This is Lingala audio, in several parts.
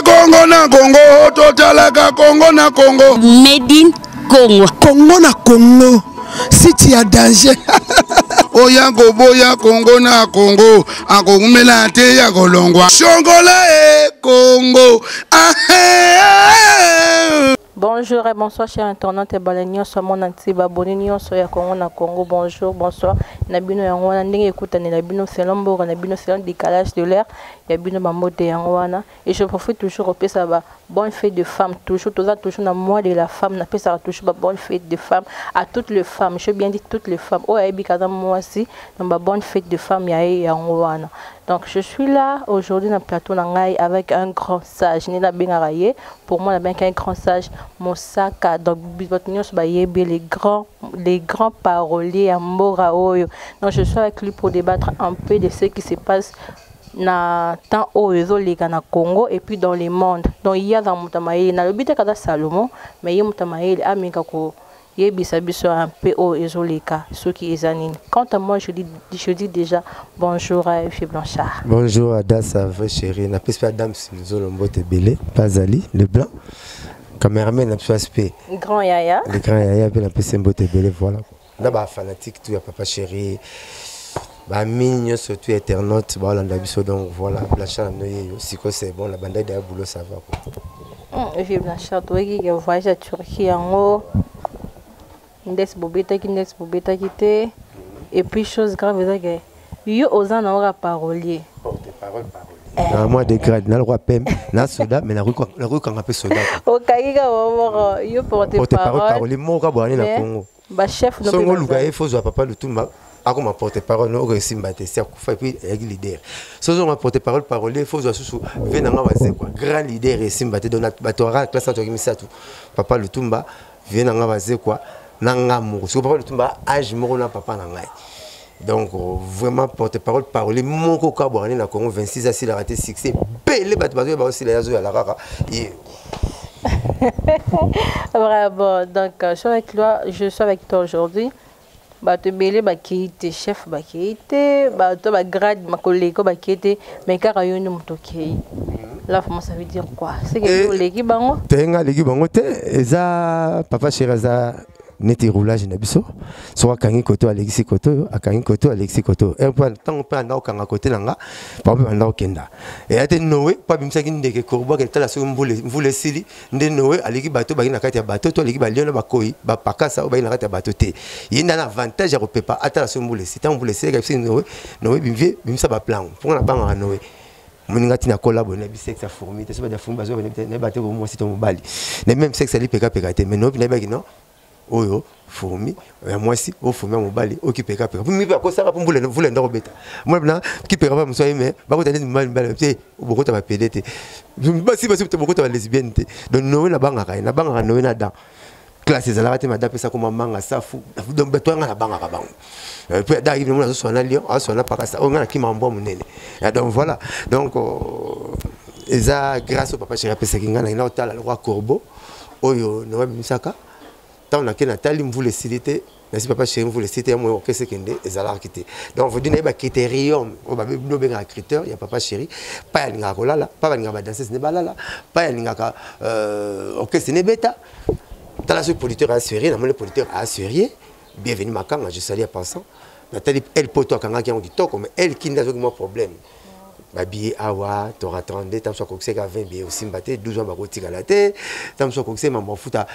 kongo na kongo totalaka kongo na kongo medine Congo. Congo na Congo. Siti ya danger. oya koboya kongo na kongo akokumela te ya kolongwa shongola e kongo ah, eh, eh. Bonjour et bonsoir chers internautes et bala nyonso mona ntiba boni nyonso ya Congo na Congo bonjour bonsoir na bino yango wana ndenge ekutanela bino selon mboka na bino selon décalage de l'heure ya bino bambote yango wana Et je profite toujours kopesa ba bonne fête de femme toujours toza toujours na mois de la femme napesaka toujours ba bonne fête de femme à toutes les femmes je bien dit toutes les femmes oyo ayebi kaza mwasi na ba bonne fête de femme ya ye yango wana donc je suis là aujourd'hui na plateau na ngai avec un grand sage nde nabengaka ye pour moi nabengaki un grand sage mosaka donc bato nyonso bayebi les grands les grands paroliers ya mbora oyo donc je suis avec lui pour débattre un peu de ce qui se passe na temps oyo ezoleka na congo et puis dans le monde donc ye aza moto ya mayele nalobi te kaza salomon mais ye moto ya mayele ameka koyebisa biso un peu oyo ezoleka soki eza nini quant à moi je dis, je dis déjà bonjour à fille blanchard bonjour à dasa vrai chéri napesi mpe adame silizolo mbote ebele mpe azali le blanc cameraman na biso aspe grand yaya le grand yaya mpe napesi mbote ebele voilà na ba fanatique tout ya papa chéri ba mini nyonso tout internaute baolanda biso donc voilà blanchard na bino yeyo sikoyo c'est bon na bandai daya boulot ça va quoi evi hmm, blanchard toyeki ke voyage ya turquie yango ndesi bobetaki ndesi bobetaki te et puis chose grave eza ke Yo oza na ora parolier. Porte parole parole. Eh. na mwa degrade nalokwa pembe na soda me nakoki kanga mpe soda okayika womoko yo porte parole moka bwani na congo songo oluka ye fozwa papa lutumba akoma porte parole no okoki esimba te si akufa epuis ayaki leader soki ozonga porte parole parole fozwa susu ve na nga wazekwa grand leader esimba te donc bato aka classe na toki misato papa lutumba vie na ngai bazekwa na ngai moko soki papa lutumba age moko na papa na ngai donc vraiment porte parole parole moko kaka bwakani na congo 26 asilaka te succès ebele bato bazoya baosila ye azoyala kaka ye bravo donc euh, je suis avec toi aujourd'hui bato ebele bakei te chef bakei te bato ba grade makoleko bakei te mais kaka yo nde moto okei mhm. la fama ça veut dire quoi seke eh, oleki bango te nga aleki bango te eza papa chéri aza neti roulage na biso soki akangi koto alekisi koto oyo akangi koto alekisi koto oyo eh, ntango mpe anda kokanga kote na nga bango mpe banda kokenda eya te noe mpo abimisaki ndeke korubaka etala soki mvula esili nde noe aleki bato bayi na kati ya bato to aleki balio na bakoi bapakasa oyo bayi na kati ya bato te ye nde na avantage ya kopepa atala so mbula esi ntango mbula esileka biso noe noe bimvie bimisa baplango mpo nga nabangaka noe moninga ntina kola boye nayebi sexe ya fourmi te so bati ya fourmi bazoba nayebi te komwasi to mobali nayebi meme sexe ya lipekapeka te mais noe nayebaki non oyo fourmi ya mwasi oyo fourmi ya mobali oyo kipekapeka mipe akosaka mpo mbula mvula enda kobeta mwana kipeka mpe mosali me bakota neti mibali mibali te bokota bapede te basi basi te bokota balesbienne te donc nowe nabangaka ye nabangaka nowe na dan classe ezalaka te mada apesa koma manga safu donc bato yanga nabangaka bango euh, mpe ada ayibi mona azoswana lion azoswana pakasa oyo ngai nakima mbwa monene euh, donc voilà donc euh, eza grâce au papa chéri apesaki ngai nakenda kotala lokwa corbeau oyo na babimisaka ntango nake natali mvula esili te nasi papa chéri mvula esili te ya moyo okese kende ezalaki te donc vodi naye bacritérium oyo babino obengaka criteur ya papa chéri pai alingaka kolala pai balingaka badanses nde balala pai alingaka euh, okese nebeta tala soki producteur assurie namoni producteur assurie Bienvenue Makanga, je salue à pensant. Nathalie, elle poto akangaki yango kitoko, mais elle kinda azoki mwa problème. babiye awa tora 32 ntango so akokisaki 20 biye osimba te 12 wana bakotikala te ntango so akokisaki mama mafuta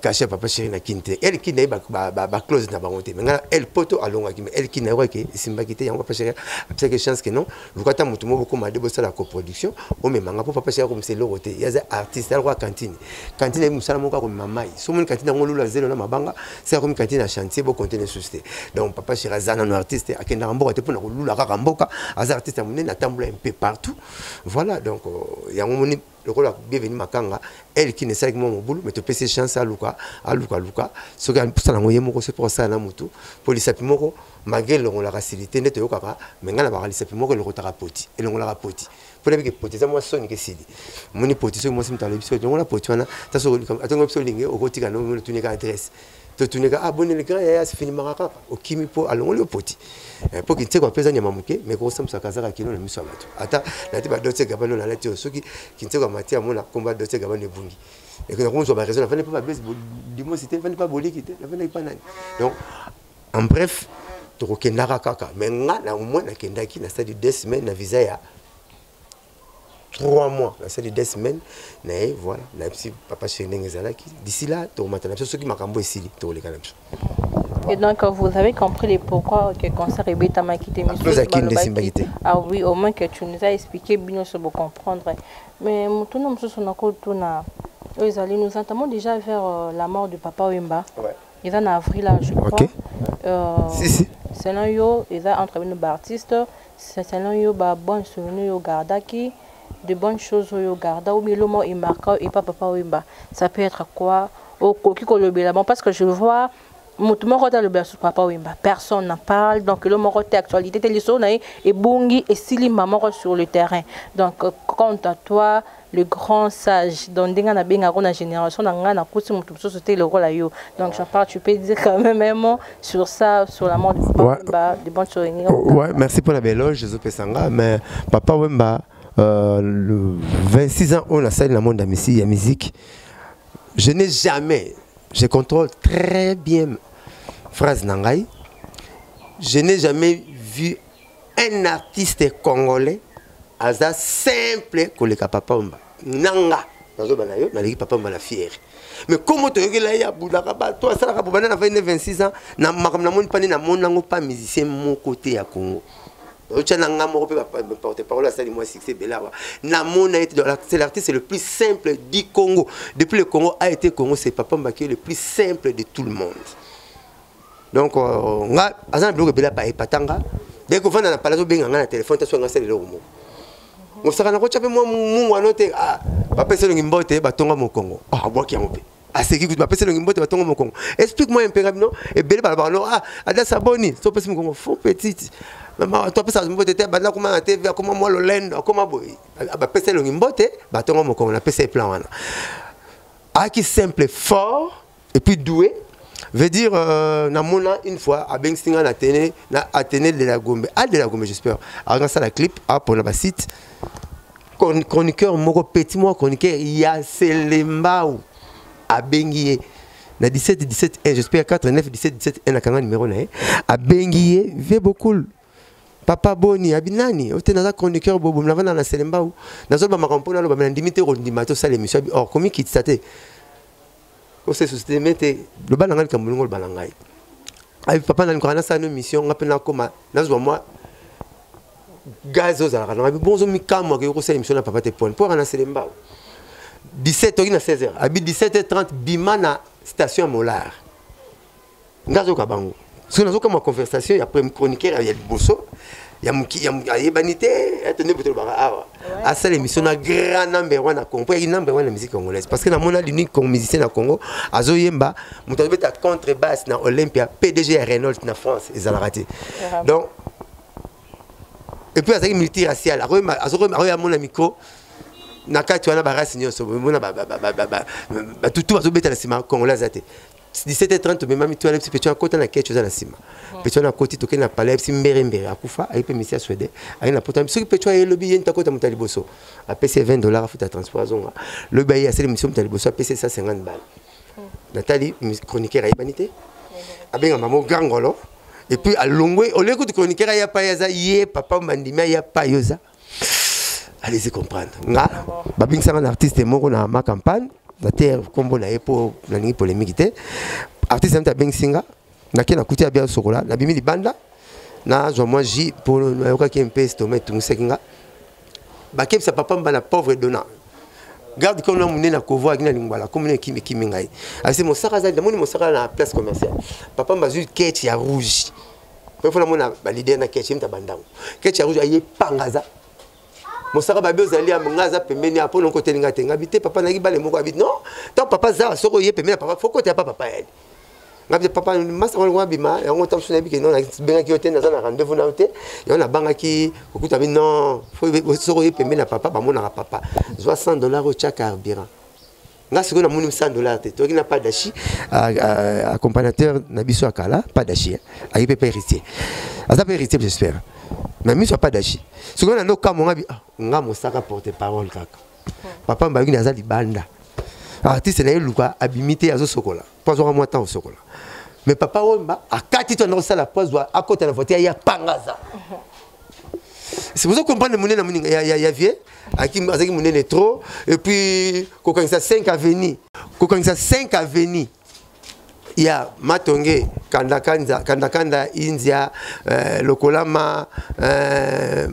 kashe euh, papa sheri na kini te el kini naye baclose na bango te me ngai el poto alongaki me el kini nayoka ke esimbaki te yango papa sheri apesaki chance ke non luka ata moto moko bokoma de bosala coproduction omema nga mpo papa esi akomisa eloko te ye aza artiste aloko ya kantine kantine yebi mosala moko akomema mai so omoni kantine yango lula zelo na mabanga se akomi kantine ya chantier bokonte ne susi te donc papa chéri aza nano artiste akendaka mboka te mpona kolula kaka mboka aza artiste ya monene atambola mpe partout voilà donc euh, yango moni lokola bienvenu makanga elle qui ne sait que mon boulot mais tu pèse chance à Luka à Luka Luka ce qui a poussé na ngoye moko c'est pour ça na mutu pour les sapi moko malgré longo la facilité ndeto yo kaka mais ngana ba les sapi moko le kotaka poti et longo la poti pour les que poti za moi soni que sidi moni poti ce moi c'est mutalo biso longo la poti wana ça so atongo biso linge okotika no moni tunika adresse totuneka ah boni le grand yaya asifinimaka kaka okimi mpo alongoli yo poti eh, mpo kinsekwa mpe eza nyama moke me kokosambusa kazaka kino na miso ya bato ata nati badotse gabani oyo nalati oyo soki kinsekwa mati amona komba dotse gabani ebungi nakomozwa baraison nafandi mpe babesi dimosi te nafandi mpe boliki te nafandaki mpa nani donc en bref tokokendaka kaka me nga na omoi nakendaki na stade des semaine na visa ya 3 mois nasali des semaines naye voilà nayebisi papa chéri ndenge ezalaki d'ici là tokomatana biso soki makambo esili tokoleka na biso Et donc, vous avez compris le pourquoi que le concert est bétamaki de monsieur. Ah oui, au moins que tu nous as expliqué, bien sûr, vous comprendre. Mais tout le monde, tout le monde, nous entamons déjà vers euh, la mort du papa Wimba. Ouais. eza na avril je crois okay. euh, si, si. selon yo eza entre bino baartiste selon yo babonne souvenir yo gardaki de bonnes choses oyo garda ou bien eloma oyo emarka oyo epa papa oyemba ça peut être quoi okoki kolobela bon parce que je vois moto moko te alobela susu papa oyemba personne n'en parle donc elo moko te actualité te lisolo na ye ebungi esili mba moko sur le terrain donc quant à toi le grand sage donc ndenge na benga ko na génération na nga na kuti mutu mususu te lokola yo donc j'en parle tu peux dire quand même un mot sur ça sur la mort de papa ouais. Wemba de bonne souvenir ouais merci pour la belle loge je pesanga mais papa Wemba euh, le 26 ans on a salle na monde ya musique ya musique je n'ai jamais je contrôle très bien phrase na ngai je n'ai jamais vu un artiste congolais aza simple koleka papa omba nanga nazoba na yo naleki papa omba na fiere mais komo toyokela ye abundaka bato asalaka bobanda na 22 26 ans na makambo namoni pani namoni yango pa musicien moko te ya congo otya na nga moko mpe porte parole asali mwa succès ebele awa namona ete c'est l'artiste le plus simple du congo depuis le congo a été congo c'est papa mbakio le plus simple de tout le monde donc euh, nga aza na biloko ebele apa epata nga de kovanda na pala azobenga nga na telefone ta swanga sala eloko moko mosaka na kotya mpe mwa mungu ano te ah, bapesa elongi mbote batonga mokongo ah, abwaki yango mpe aseki kutu bapesa elongi mbote batonga mokongo explique moi mpe nga bino ebele balobaka no ah, ada saboni so opesi mokongo fo petite mama to apesa mbote te banda akoma na tv akoma mwa lolendo akoma boye bapesa elongi mbote batonga mokongo napesa ye plan wana aki simple fort et puis doué veut dire euh, na mona une fois abengisi nga na tene na atene de la gombe a ah, de la gombe j'espère anga sala clip a ah, pona ba site chroniqueur moko petit moko chroniqueur ya selembao abengi ye na 17 17 1 j'espère 4 9 17 17 1 akanga numéro na ye abengi ye vie beaucoup papa boni abi nani ote naza chroniqueur bobo navanda na selembao nazoloba makambo mpo naloba me nandimi te kondima tosala émission abi or komikitisa te ose susite me te loba na ngai likambo lingo loba na ngai ayi papa nani kaka nasala no mission nga mpe nakoma nazwa mwa gaz ozalaka na ngai bongo ozomikamwa ke okosala mission na papa te pone mpo aka na selembao 17 oki na 16 heures abi 17 heures 30 bima na station ya molar nga azoyoka bango soki nazokamwa conversation ya prime chroniqueur ya liboso ayebani te ete nde botolobaka awa asala émission na grand number one na congo mpo yaki number one na musique congolaise parce que namona l'unique musicien na congo azoyemba moto azobeta contre basse na olympia pdg ya reynolds na france ezalaka te donc epuis azalaki multiracial akoya amona micro na kati wana barasi nyonso mona batutu bazobeta na nsima congolais aza te 17h30 tomemami to yalebisi petion akota na kecho eza na nsima oh. petion akoti tokei na pale yalebisi mbere mbere akufa ayi mpe misia swede ayi na poto soki petion aye lobi ye nti akota moto ya liboso apesi ye 20 dollar afuta transport azonga lobi aye asali misio moto ya liboso apesi ye 150 bale oh. natali chroniqueur ayebani te oh. abenga mamo grangolo epuis alongwe oleki kutu chroniqueur aya pa ye aza ye papa mandimi aya pa yo eza allez-y comprendre nga babingsanga na artiste moko na ma campagne na te kombo na ye mpo nalingi polémique te artiste nami abengisi nga nake nakuti ya bia sokola nabimi libanda nazwa mwa ji mpo nayokaki mpe stoma etungisaki nga bakebisa papa mba na pauvre dona garde comme na munene akovo akina lingwala comme na kimi kimi ngai asi mosaka azali namoni mosaka na place commerciale papa mbazui kete ya rouge oyo fona mona ba leader na kechi mta bandango kechi akuzu aye pangaza mosaka babi ozali ya nga aza pembeni ya pona nkoteli nga te nga bite papa naki bale moko abi non tant papa za soko ye pembeni ya papa faut kotela pa papa yali nga bite papa masa ngoli ngwa bima yango tango sona bike non bengaki yo te naza na rendez-vous na yo te yango nabangaki kokuta bi non soko ye pembeni ya papa bamonaka papa zwa 100 dollars otya carburant nga sikoyo namoni 100 dollar te toyaki na padashi accompagnateur na biso ya kala padashi ayi mpe mpe héritier aza mpe héritier j'espère na miso ya padashi sikoyo nando kamo nga ah, nga mosaka porte parole kaka papa mbayokini aza libanda artiste na ye luka abimi te azosokola mpo azwaka mwa ntango sokola me papa wemba akati to anda kosala mpo azwa akota na voiture ya pangaza c'est pour ça comprendre monene moninga ya, ya, ya vie azalaki monene trop et puis kokangisa 5 avenue kokangisa 5 avenue ya matonge kandakanda kandakanda india eh, lokolama eh,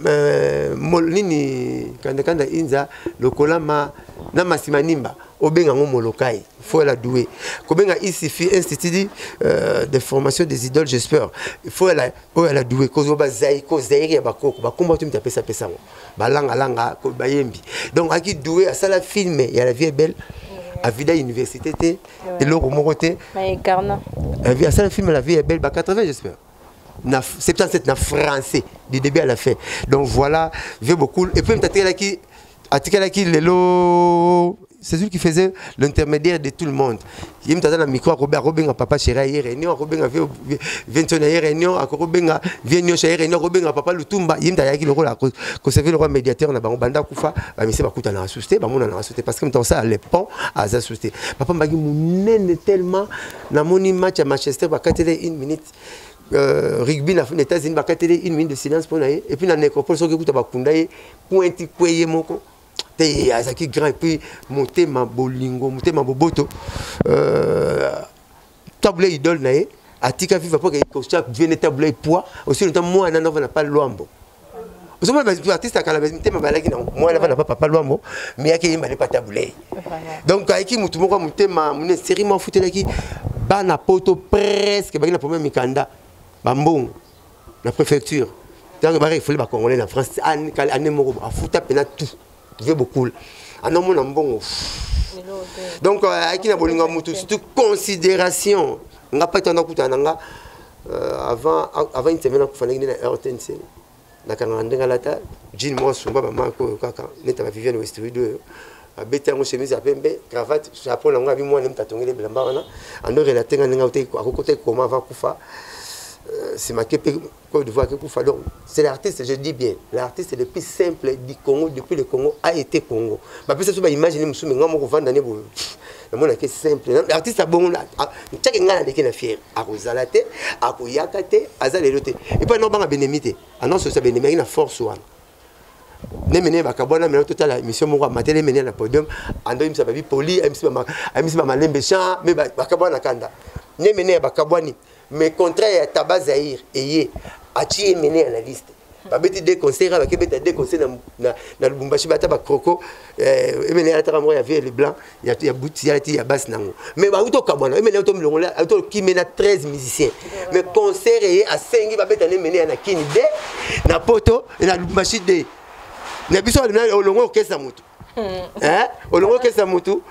eh, mol, nini kandakanda india lokolama na masimanimba obenga yango molokai faut la douer kobenga isifi institut euh, de formation des idoles j'espère faut la oyo oh, la douer kozo ba zaiko zaire ya bakoko bakomba tu mtapesa pesa ngo balanga langa ko bayembi donc aki douer asala film ya la vie est belle avida université te eloko moko te asala film la vie est belle ba 80 j'espère na 77 na français du début à la fin donc voilà vieux beaucoup et puis mtatikalaki atikalaki lelo c'est lui qui faisait l'intermédiaire de tout le monde ye moto aza na micro akobe akobenga papa shera ye réunion akobenga vientio na ye réunion akobenga vie nyonso ye réunion akobenga papa lutumba ye moto ayaki lokola koservi lokola médiateur na bango banda akufa bamisi bakutanaka susu te bamonanaka susu te parce que moto akosala le pont aza susu te papa mbaki monene tellement namoni match ya manchester bakatele une minute euh, rugby na états-unis bakatele une minute de silence mpo na ye epuis na necropole soki ekuta bakunda ye pointi kwe ye moko te azalaki grand epuis motema bolingo motema boboto euh, tabula idole na ye atika viva mpo ekostia viene tabula ye poids osili nta mwana navana pa lwambo ozomona baartiste ya kala mitema balaki nango mwana bana pa papa lwambo me yaki eyemba ne pata bulei donc ayiki motu moko ya motema mone seri mwa afutelaki bana poto presque baki na problème mikanda bambongo na préfecture ntango barefule bacongolais na france ane moko afuta mpena tout ve bokul ana omona mbongo donc euh, ayaki na bolingo ya motu surtout considération nga pai tanda kutana na nga euh, avant avant une semaine akufandaki nde na rtnc nakangaka ndenge alata jean moko asumba bamako oyo kaka neta baviviane westrid oyo abeti yango chemise ya pembe cravate chapeau na yango abi mwana moto atongeli ebilamba wana ando relate nga ndenge akokota ekoma avant akufa euh, semake mpe Côte d'Ivoire qui koufa donc c'est l'artiste je dis bien l'artiste le plus simple du Congo depuis le Congo a été Congo ba pesa so ba image ni musume ngamo ko vanda ne bo na mona ke simple l'artiste a bon là chaque ngana ndeke na fier a ko zala te a ko yaka te aza lelo te et pas non banga benemi te annonce ça benemi na force wana ne mene bakabwana mena totala émission moko amatele mene na podium ando imisa babi poli amisi ba malembe champ mais bakabwana kanda ne mene bakabwani mais contraire ya taba zaire eye atie ye mene ya na liste babeti de concert abaki ebeta de concert na lubumbashi bata bacroco eh, emene alataka moko ya vieux leblanc ya buti alati ya basi nango mais bauti okabwana emene auti omilongola auti okime na 13 musicien mais concert eye asengi babeta na emene ya na kini de na poto na lubumbashi de na biso olongo okesa moto olongo okesa motu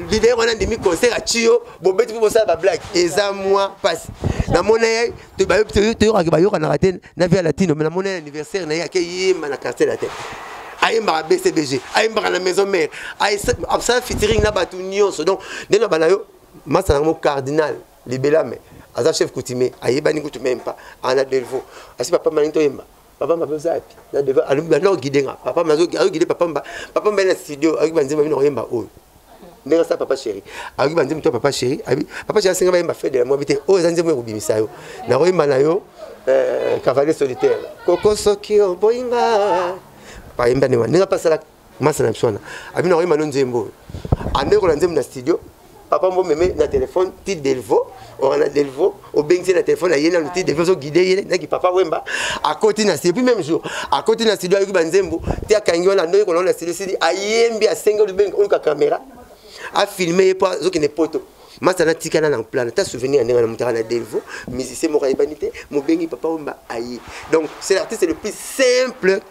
lider wana ndimi concert aci yo bobeti mpo bosala bablage eza mwa mpasi namona ye toyokaki bayokanaka te na via latino me namona ye anniversaire na ye akeyemba na quartier latin ayembaka bcbg ayembaka na maison mare asala fitiring na bato nyonso donc nde na bana yo masana yango cardinal libelame aza chef coutumier ayebani kutu meme pas ana delvaux asi papa malingi toyemba papa mba oza wapi na devant alobi banda ogide nga papa mba azogide papa mba papa mba na studio ayoki banzembo bino oyemba oyo ndenge asala papa chéri ayoki banzembo to papa chéri abi papa chéri asenga bayemba fede ya mwabi te oyo eza nzembo ya kobimisa yo nakoyemba na yo eh, cavalier solitaire koko soki oboyinga bayemba ndenge ndenge apasalaka masa na biso wana abino akoyemba no nzembo oyo amekola nzembo na studio papa mbo meme na telefone ti delvo ora na delvo obengisi na telefone aye nanu ti delvo ozoguide ye naki papa wemba akoti na studio puis même jour akoti na studio ayoki banzembo ti akangi wana ndoki kolona na studio sili ayembi asengi olubengi oluka kamera afilme ye mpo azokende poto masa natikala na plan ata souvenir ya ndenge na motaka na delvo musicien moko ayebani te mobengi papa wemba aye donc c'est l'artiste le plus simple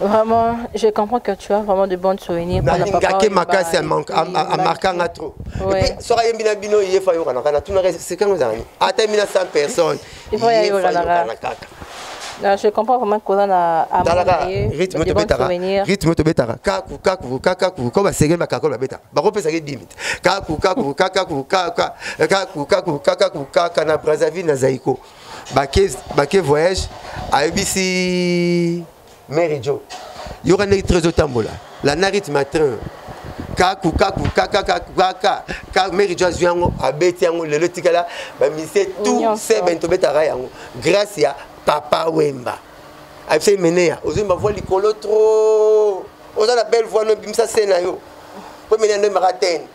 Vraiment, je comprends que tu as vraiment de bons souvenirs. Nalingaki makasi amarkanga trop. Epuis soki ayembi na bino ye fa yokana kana tunaka esekango ezalani ata yembi na 100 personnes ye fa yokana kaka. Non, je comprends vraiment que là na amalaka rythme to betaka rythme to betaka kaku kaku kakaku ko ba segel ba kako ba beta ba ko pesa ke limite kaku kaku kakaku kaka kaku kaku kakaku kaka na Brazzaville na Zaïko bake bake voyage ayebisi mary jo yoka ndenge train ezotambola landa rythme ya train kaku kaku kakakakaka ka mary jo azwi yango abeti yango lelo etikala bamise tout seben tobetaka yango grâce ya papa wemba ayebisaki meneya ozwi bavoi likolo trop oza na belle voi no ebimisa se na yo mpo meneya ndoyembaka tene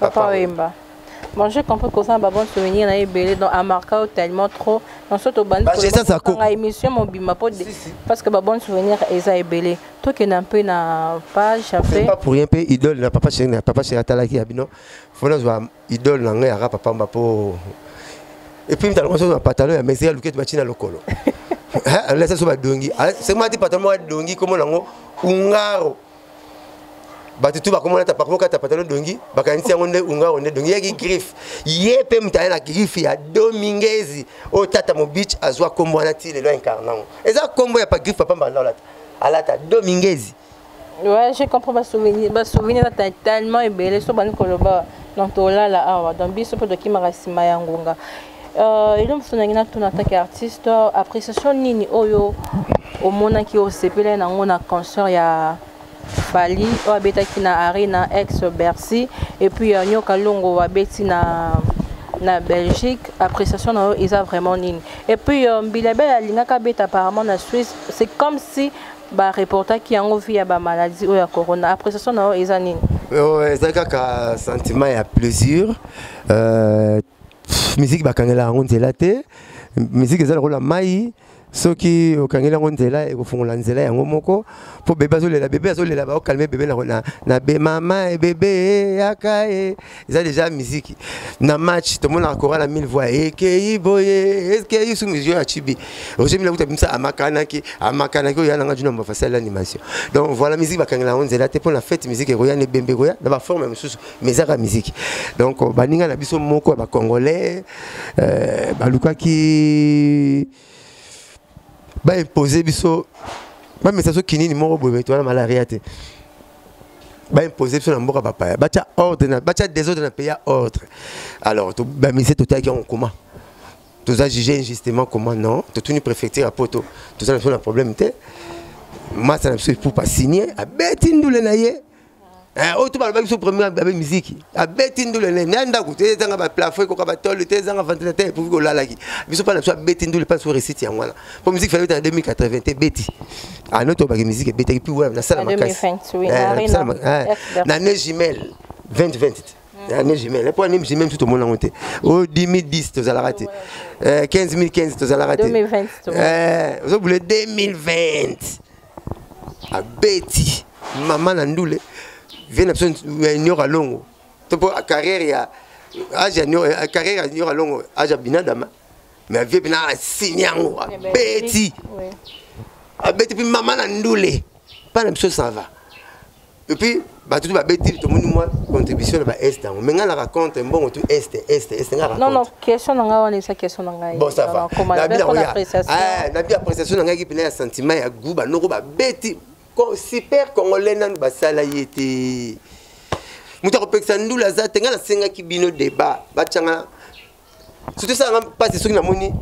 Papa Wemba. Bon, j'ai compris que ça va bon souvenir na ebele donc a marqué tellement trop. On saute au bandi. Bah, j'ai ça ça ko. Na émission mon bima po parce que ba bon souvenir eza ebele. To ke na peu na page après. C'est pas pour rien pe idole na papa chéri na papa chéri atalaki abino. Faut na zwa idole na ngai ara papa mba po. Et puis mtalo koso na pantalon ya mesure luket ba china lokolo. Hein, laisse so ba dongi. Ah, c'est moi ti pantalon moi dongi comme nango ungaro. bato tu bakomona ta pakoma kata patalo dongi bakanisi yango nde unga yango nde dongi yaki griffe ye mpe moto aye na griffe ya domingezi oyo tata mobich azwa nkombo wana ti lelo incarne yango eza nkombo ya pa griffe papa mbanda olata alata domingezi Ouais, je comprends ba souvenir, ba souvenir ata tellement ebele so bani koloba donc tolala awa donc biso mpe tokimaka nsima ya ngonga Euh, eloko mosusu nangi natuna atake artiste appréciation nini oyo omonaki osepelai nango na concert ya fali oyo abetaki na arena ex bercy epuis ya nyoka longo abeti na na belgique appréciation na yo eza vraiment nini epuis euh, mbilabel alingaka abeta apparemment na suisse c'est comme si bareportaki yango vi ya bamaladie oyo ya corona appréciation na yo eza nini euh, eza kaka sentiment ya plaisir euh, miziki bakangela yango nzela te miziki eza lokola mai soki okangeli yango nzela ekofungola nzela yango moko mpo bebe azolela bebe azolela baokalme bebe na, na, na be mama e bebe e, yaka e eza deja miziki na match tomonaka kora na mille voix ekei boye ekei su musio ya chibi roger mila kuta bimisa amakanaki amakanaki oyo yananga juna mbafasali animation donc voilà miziki bakangela yango nzela te mpo na fete miziki ekoya na ebembe ekoya na baforme mosusu mais ezaka miziki donc baninga na biso moko ya bacongolais euh, balukaki baimpose biso bamesa so kinini moko boye bato wana malaria te baimpose biso na mboka bapaya batya ordre batya desordre na pays ya ordre alors bamise totalaki yango koma toza juge injustement comment non totuni préfecture ya poto toza na biso na problème te masa na biso epupa signe abeti ndule na ye Eh, oyo to balobaki biso premier abe miziki abeti ndule ne na ndako te ezanga baplafo ekoka batole te ezanga ventilateur epuki kolalaki biso mpa na biso abeti ndule mpa so resite yango wana mpo miziki fana ebeta na 2080 te ebeti ano tobaki miziki ebetaki mpi wana nasala makasi na ne jumelle 2020 te année jumelle mpo année jumelle mosusu tomona yango te o 2010 tozalaka te 15015 tozalaka te ozobule 2020 abeti mama na ndule vie na biso ya ignore alongo to mpo carrière ya age ya carrière ya ignore alongo age ya binadama mais vie mpena asini yango abeti abeti mpe mama na ndule mpa na biso ça va et puis bato tu babeti tomoni mwa contribution na baeste yango me ngai naka contre mbongo tu este este este ngai non non question na ngai wana eza question na ngai bon ça va na bien oya ah na bien appréciation na ngai ki pena ya sentiment ya goût ba noko babeti super congolais nanu basala ye te moto akopekisa ndula aza te ngai nasengaki bino débat batyanga surtout esalanga mpasi soki namoni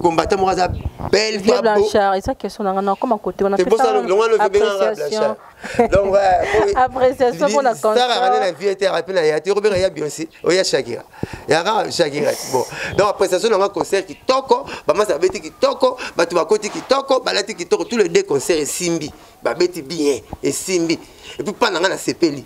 combattant moko aza belle vieux blanchard eza question nanga nakoma kote wana appréciation donc appréciation mpo na constaraka na vie te arape na ya te okobeka ya bionse oya shakira yaka shakira bon donc appréciation nanga concert kitoko bamasa babeti kitoko bato bakoti kitoko balati kitoko tous les deux concert esimbi babeti bien esimbi epuis mpa nanga nasepeli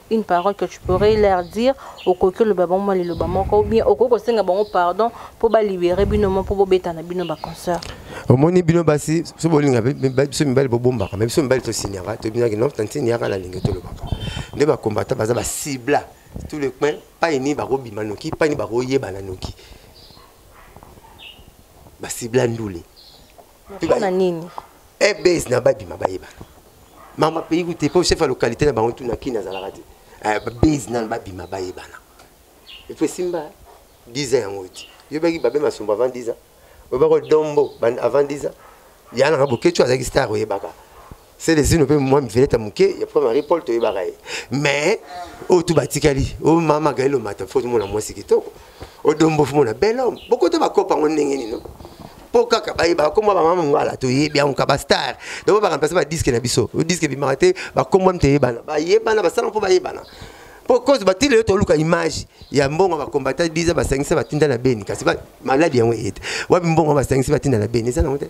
une parole que tu pourrais leur dire okoki oloba bango mwa liloba moko ou bien okoki kosenga bango pardon mpo balibere bino mo mpo bobetana bino baconcert omoni bino basi so bolinga biso mibali bobombaka me biso mibali tosinyaka tobinaki no tantine yaka na lingi tolobaka nde bakombata baza basibla tout le coin pai nini bakobima noki pai nini bakoyebana noki basibla ndule pona nini eh base na babima bayeba mama pays goûté po chef ya localité na bango tuna kini azalaka te eh, base na babima bayebana epo esimba 10 ans yango ti yobaki babe masumbu avant 10 ans oyebaka dombo avant 10 ans yanaka bokeco azalaki star oyebaka selezino mpe mwa miveleta moke ya papa marie paul toyebaka ye mais oyo tu batikali o oh, mama gael omata fo tomona mwasi kitoko odombo fo mona bel homme bokota bakopa yango ndenge nino mpo kaka bayebaka kombo bamama ngwala toyebi yango ka bastar donc bakamplase badiske na biso diske ebimaka te bakombo mte yebana bayebana basala mpo bayebana mpo cause batili yo toluka image ya mbongo bakombata biza basangisa batinda na beni kasi maladi yango eye te wapi mbongo basangisi batinda na beni eza nango te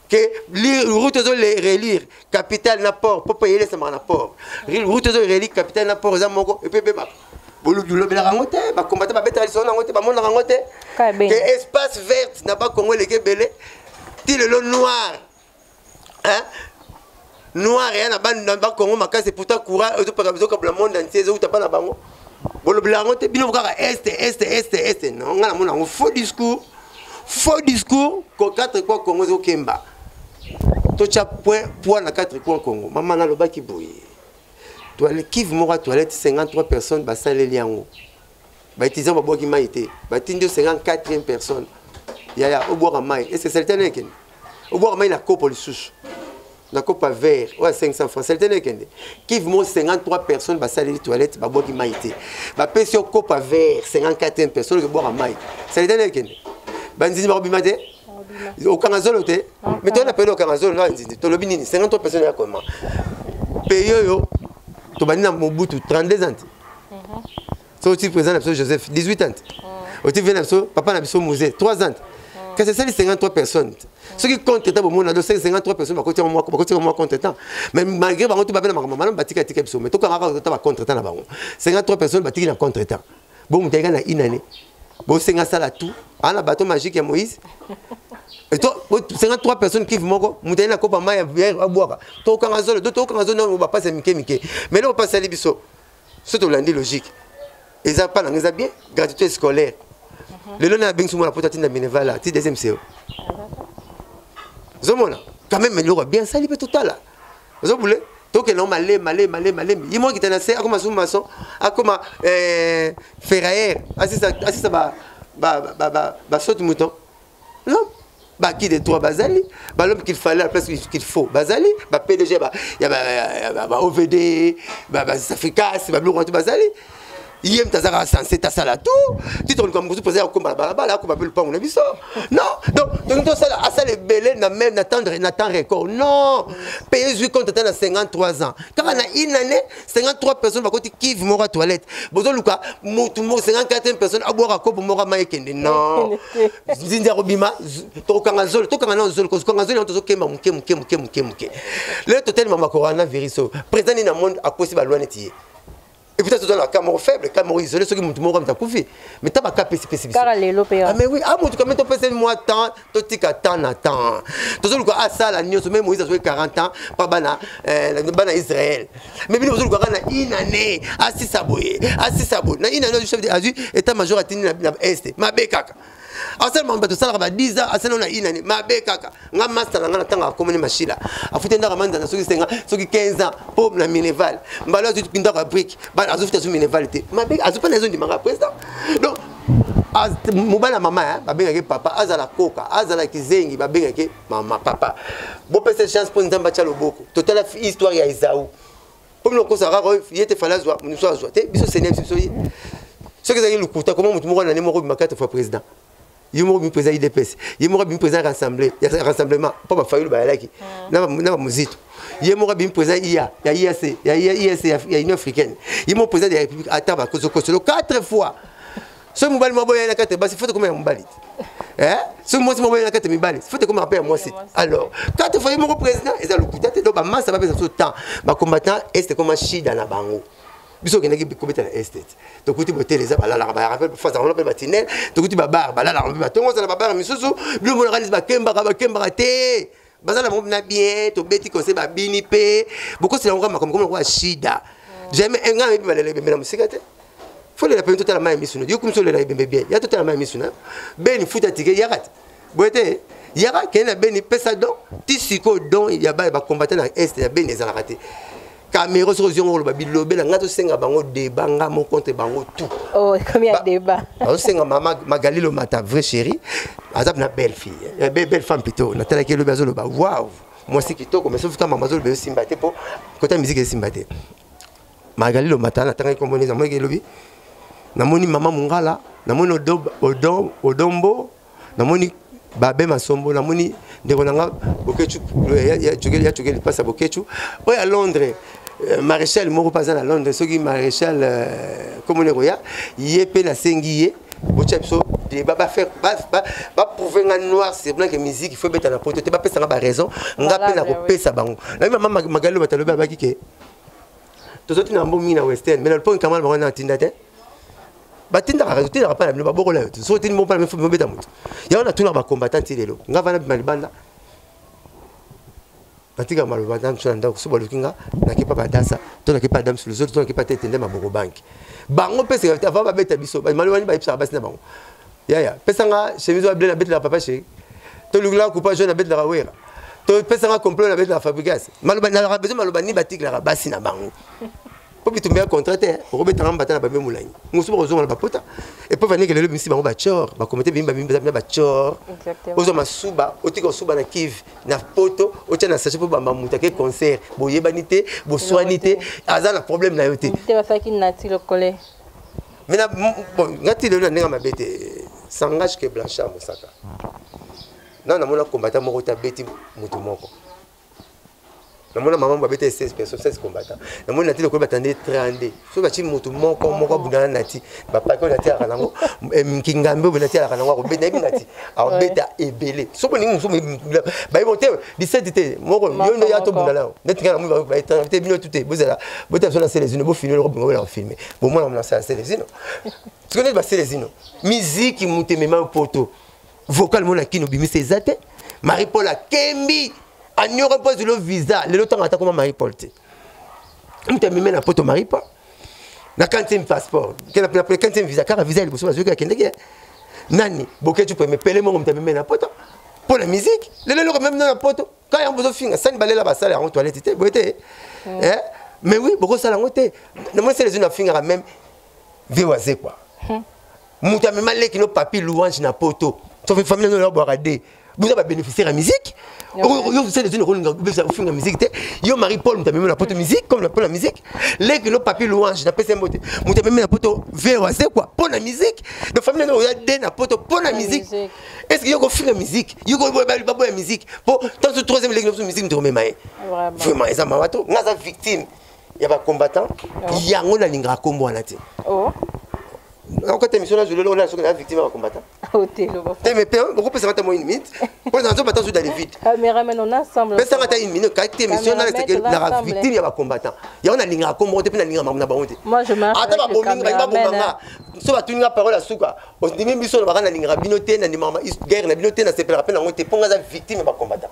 ke route ozo le relire capitale na port mpo mpo eyelesamaka na port route ozo relire capitale na port eza moko epe ebebaka bolobelaka yango te bakombata babetaka lisolo na yango te bamonaka yango te ke espace verte na bakongo eleki ebele ti lelo noir hein? noir ya na bana ba Congo makasi pourtant courant ezo paka bizo kabla monde entier ezo utapa na bango bolobela yango te bino kaka est est est est non nga na mona ngo faux discours faux discours ko quatre quoi Congo ezo kemba to cha point point na quatre quoi Congo mama na lobaki boye toilette kivu moko toilette 53 personnes basaleli yango baétudiant babwaki mai te batindi yo 54e personne yaya obwaka mai ese salite na ekende obwaka mai na kopo lisusu na kopa vert oyo ya 500 franc salite na ekende kive mo 53 personne basaleli toilette babwaki mai te bapesi yo kopa vert 54e personne okebwaka mai salite na ekende banzinzi bakobima te okanga zolo te me toyena pele okanga zolo na banzinzi tolobi nini 53 personne ya koma peye oyo tobandi na mobutu 32 ans te so oti président na biso joseph 18 ans mm. oti vie na biso papa na biso muse 3 ans mm. kasi esali 53 personnes soki compte temps bomona do 53 personnes bakoti yango mwa compte temps mais malgré bango to babe na makambo malamu batika tika biso mais tokangaka kota ba contre temps na bango 53 personnes batiki na contre temps bomuta eka na une année bosenga sala tout ana bateau magique ya moïse 53 personnes kive moko moto aye na kopa mai ya abwaka tokanga zolo do tokanga zolo nano bapasi ya mike mike mais leo opasali biso soki tolandi logique eza pa nanga eza bien gratuité scolaire mhm. lelo na abengisi mwana poto atinda minerval a ti deuxième seo ozomona quand même eloko bien asali mpe totala ozobule tokende male male male malembe ye moko kita na se akoma zoom maçon akoma eh, ferrailleur asisa ba ba ba ba ba saute mouton l'homme ba qui de toi bazali ba l'homme qu'il fallait la place qu'il faut bazali ba PDG ba ya ba, ya ba, ba OVD ba ba Africas ba biloko bazali ye moto azaka sense tasala tu ti toluka mokutu mpoza ya kokomba na balabala akoba mpe lopango na biso non donc tolingi tosala asala ebele na même na temps record non mpe ezwi compte ata na 53 ans kaka na une année 53 personnes bakoti kive moko ya toilette bozoluka motu 54 personnes abwaka kopo moko ama ekende non nzinzi akobima tokokanga zolo tokanga nao zolo kozokanga zolo yango tozokemba moke moke moke moke moke lelo totelema makorana virus oyo président nini na monde akosi balwa neti ye ekuta toza na ka moko faible ka moko isole soki motu moko amita kufi mais ta baka pesipesi biso ah, mais oui amotu ah, kame topeseli mwa temps totika temps na temps tozoluka asala nyonso meme moïse azwaki 40 ans mpa bana eh, bana israel mais bino bozoluka kaka na une année asisa boye asisa boye na une année chef azwi état major atindi na este mabe kaka asala mambo bato osalaka ba 10 ans asala na une année mabe kaka nga master na nga na ntango akomoni mashila afuti ndako manzana soki senga soki 15 ans mpo na mineval mbala azwi ndako ya brike azofuti azwi mineval te mabe azwi mpe na ezondimaka président donc mobali ya mama eh, babengaki papa azala koka azala kizengi babengaki mama papa bopesa chance mpo nzambe atya loboko totala histoire ya ezau mpo bino kosa kaka ye te fale azwa mosusu azwa te biso senia biso biso ye soki ezalaki lokuta koma motu moko nani moko bimaka te fois président ye moko bimi président idps ye moko bimi président ya rassemblement mpo bafayulu bayalaki hmm. na bamozito ye moko abimi président ia ya iac ya iac ya union africaine ye moko président de la république ata bakozokosolo 4 fois soki mobali mwa boyai na kati ya basi fote komela mobali te eh? soki mwasi mwa boyai na kati ya mibali fote komela mpe ya mwasi te alors kati fai moko président eza lokuta te donc bamasa bapesa biso temps bacombattant este ekoma shida na bango biso okendaki kobeta na este te tokuti botele eza balalaka barape fasakolo mpe batinel tokuti babare balalaka mpe batongozana babare misusu bino monaka neti bakembaka bakembaka te baza na bango na bien tobeti conseil babini mpe bokosela yango makambo koma lokola shida jamais eh, ngai nayebi balela ebembe na mosika te folela mpene totala mai ya misu na yo kumisa olela ebembe bien ya totala mai ya misu na yo beni futa tike yaka te boye te yaka kende na beni pesa don ti sikoyo don ya baye bakombata na este ya beni ezalaka te camero soki ozwi yango oloba bilobela ngai tosenga bango deba nga mo contre bango tout oh, azosenga mama magalilo mata vrai chéri aza na belle fille eh, belle femme pito natalaki elobi azoloba waw mwasi kitoko mais sofuta mama azoloba esimba te mpo kota miziki esimba te magalilo mata natangaki komoneza moniki elobi namoni mama mongala namoni odombo namoni babe masombo namoni ndeko na nga bokechu ya cokeli ya cokeli mpasa bokechu oyo ya londres euh, maréchal moko mpe aza na londres soki maréchal euh, komona ekoya ye mpe nasengi ye botya biso débat bafaire baprouve nga noir sur blanc ke musique il faut ebeta na poto te bapesa nga baraison nga mpe nakopesa bango nayebi mama magali loba talobi abaki ke tozo tina mbongo mingi na western mais na loponi kamala bango na tinda te batindaka rajo tindaka mpa na bino babokola yo te soki otindi mopala mifubi mobeta moto yango natuna bacombattant ti lelo nga vana bima libanda natika maloba na miso na ndako so baluki nga nakepa badasa to nakepa adam suluzoto to nakepa tete nde maboko banki bango mpe sekavite avant babeta biso malobani bayebisaka basi na bango yaya pesa nga chemise wa ble na betelaka papa sheri to lukila kupa jaune na betelaka wera to pesa nga complot na betelaka fabrigas maloba nalaka besoin maloba ni batikelaka basi na bango mpo bitumba ya contrat te okobetanga mbata na bambe molangi mosusu bakozonga na bapota epo vanike lelo bimisi bango bacor bakomite bimi bamibamina bacor ozwa masuba otika osuba na kive na poto otya na sache mpo bamba moto ake concert boyebani te boswani te aza na problème na yo te mais na bon ngati lelo na ndenge mabe te sangage que blanchard mosaka na namona combattant moko te abeti motu moko namona mama babeta 16 personnes 16 combattant namoni nati lokola batandi 32 soki bati motu moko moko abundana nati bapaki oyo natialaka nango eh, nkingambe oyo natialaka nango akobeta yebi nati abeta ebele soki olingi mosusu bayebi te liseti te moko yo nde ya tobunda nayo neti ngai namoite bino tu te bozala bota biso na selezino bofilme loko bingo bolaka filme bomwana monasa ya selezino soki neti baselezino miziki moto emema poto vocal mona kino obimisa eza te marie paul akembi anyoko mpo azwilo visa lelo ntango atakoma marie paul te moto ameme na poto marie paul na kantième passeport kena pena pena kantième visa kaka visa liboso bazwi kaka kendeki eh. nani boketchu peme pele mongo mtabe mena poto mpo na musique lelo eloko meme na poto kaka yango bozofinga sani balela basala yango toilette te boye te mm. eh? mais oui bokosala yango te namoni sele ezwi nafingaka meme vie wazekwa hmm. moto amema leki no papi louange na poto sofi famille no yabwaka de boza babénéficiaire ya musique yo sele zini okolinga obebisa ofinga musique te yo marie paul moto amemi na poto musique comme mpo na musique leki no papi louange na pesa mbote moto amemi na poto vero azekwa mpo na musique donc famille no oya de na poto mpo na musique est ce que yo kofinga musique yo baboya musique mpo tanso troisième leki noso musique moto komema ye vraiment eza mawa to nga aza victime ya ba combattant oh. yango nalingaka nkombo wana te oh. okota émission na zulelo ona soki na victime ya combattant oh, te mais pe okopesa nga ta mo une minute po na nzoba ta zuda le vide cameraman on ensemble pesa nga ta une minute ka te émission na leke na victime ya ba combattant ya ona linga ko mo te pe na linga na bango te moi je m'arrête ata ba bomingi ba bomba nga so ba tuninga parole ya suka ondimi biso na bakana linga bino te na ndima guerre na bino te na sepela pe na ngo te po nga za victime ya ba combattant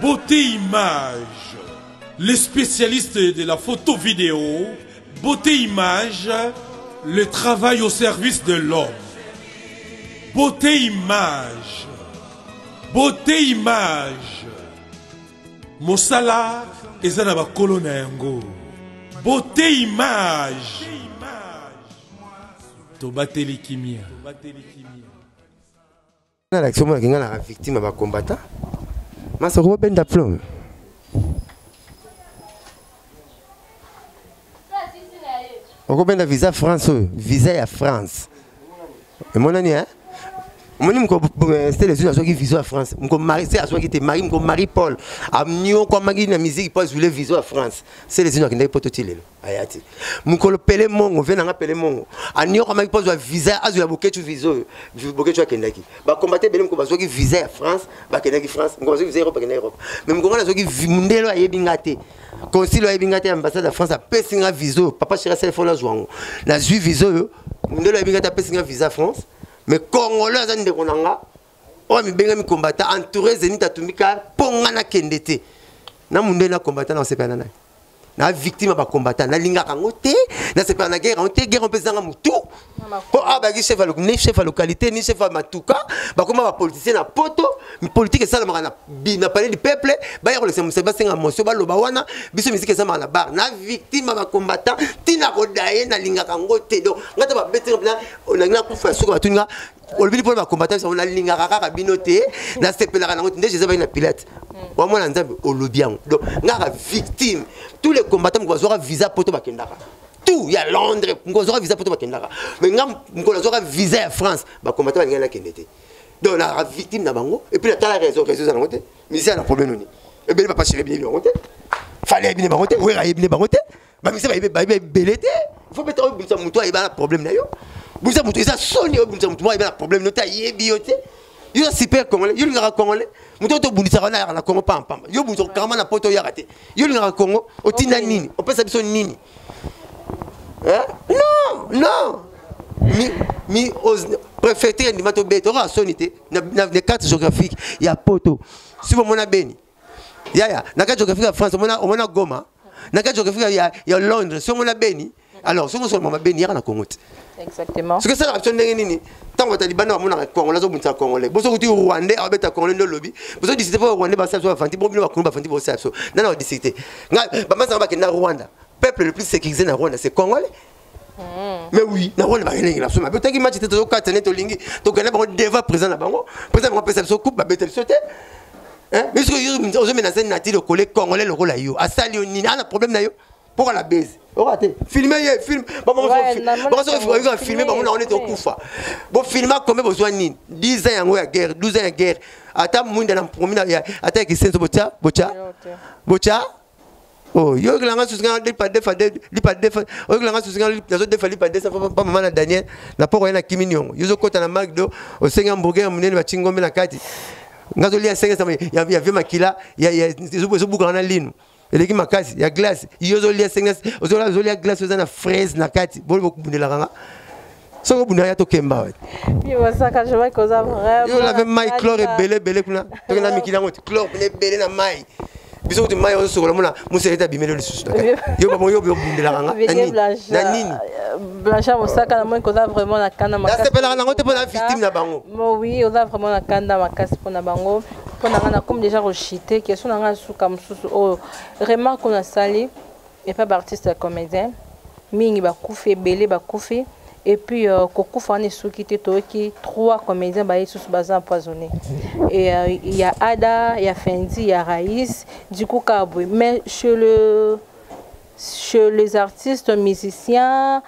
Beauté Image, le spécialiste de la photo vidéo, Beauté Image, le travail au service de l'homme. Beauté Image, Beauté Image, Mosala eza na bakolo na yango. Beauté Image, tobateli kimia. nalakisi omonaki ngai naka victime ya bacombatant masoko bobenda plome okobenda visa france oyo visa ya france emonani e omoni moko eh, stele zwi azwaki vision ya france moko mari se azwaki te mari moko marie paul aniokwamaki na miziki mpo azwile vision ya france stele zwi akendaki poto ti lelo aya te mokolo pele mongo vie nanga pele mongo aniokamaki mpo azwa visa azwa ya boketshu visa oyo boketshu akendaki bakombate ebele mokolo bazwaki visa ya france bakendaki france mokolo bazwaki visa europe bakendaki europe mais mokolo wana azwaki mondelo ayebi nga te consile ayebi nga te ambassade ya france apesi nga visa oyo papa chera selefone azwa yango nazwi visa oyo mondelo ayebi nga te apesi nga visa france mais congolais aza ndeko na nga oyo amibengami combattant entouré zenit atumbi ka mpo ngai nakende te na munde na combattant nakosepela na nani na victime ya bacombattant nalingaka yango te nasepela na guerre yango te guerre mpe ezanga motu mpo awa bayaki chef ni chef ya localité ni chef ya matuka bakoma bapoliticien na poto politique esalamaka na palais du peuple baya kolekisa mosali basenga mosio baloba wana biso miziki esalamaka na bar na victime ya bacombattant ntina kodaye nalingaka yango te donc ngai ta babetena nalingi nakufa ya suka batuni nga olobili mpo na bacombattant yango nalingaka kaka bino te nasepelaka nango te nde jesus bayina pilate wamwana nzambe olobi yango donc ngaka victime tous les combattants moko bazwaka visa poto bakendaka tout ya londres mokolo azwaka visa poto bakendaka mais nga mokolo azwaka visa ya france bacombattants balingaki nakende te donc naka victime na bango epuis natala réseau réseau eza nango te misisa na problème noni ebele papa chéri bini bango te fale ayebine bango te wera ayebine bango te bamisa bayebi bayebi ebele te fo beta obimisa motu ayeba na problème na yo bimisa motu eza soni obimisa motu moko ayeba na problème na yo te ayebi yo te yo super congolais yo olingaka congolais moto oto obundisaka wana ayaka na congo pamba pamba yo obundisa okangama na poto oyaka te yo olingaka congo otinda nini opesa biso nini non non mi, mi os, préfecture endima tobeta okoka soni te na, na, na carte géographique ya poto si bomona beni yaya na kati okefika ya france omona omona goma na kati okefika ya, ya londres soki omona beni alors soki osoloma mabeni yaka na congo te exactement soki esalaka biso ndenge nini ntango bataliban na bamonaka congolais azobundisa congolais boso kuti rwandais abeta congolais nde olobi boso disite mpo rwandais basala biso bafandi bo bino bakunu bafandi bosala biso nana badisite ngai bamasanga bakenda rwanda peuple le plus sécurisé na rwanda c'est congolais mais oui na rwanda bakelengi na biso mabe otaki match te tozokata nde tolingi tokende bango deva présent na bango présent bango apesa biso coupe babeta biso te biso ozomena zani na ti lokole congolais lokola yo asali yo nini ana problème na yo mpoka na base oka te filme ye film bakosokoyika filme bango na wana ete okufa bofilma kombe bozwa nini 10 ans yango ya guerre 12 ans ya guerre ata mwinda na promi ata ya kisenso botya botya botya Oh, yo oyokela nga susu nga lipa defa lipa defa oyokela nga susu nga nazo defa lipa defa pa mama na Daniel na poko ya na kimi niongo yo zokota na McDo osenga hamburger ya munene batingi ngombe na kati nga zolia senga sama ya ya vie makila ya ya ezobuka na linu eleki makasi ya glace yo zolia senga ozolia glace oza na fraise na kati boli bokubundelaka nga soki obunda ya tokemba wapi yo lave mai clore ebele ebele kuna toke na mikili yango ti clore pene ebele na mai biso kuti mai ozosokola mona mosele ete abimeli lisusu yo bango yo obundelaka nga na nini blanchard mosaka namoni koza vraiment na kanda makasnasepelaka nango te mpo na victime na bango oui oza vraiment na kanda makasi mpo na bango mpo na nga nakomi déjà kochite question na nga ya suka mosusu oyo remarque oyo nasali Il n'y a pas d'artiste ya comédien. Mingi bakufi ebele bakufi et puis euh, kokufa wana esuki te toyoki trois comédiens baye lisusu baza empoisonné et euh, ya ada ya fendi ya raïs du coup kaka boye mais chez le chez les artistes musiciens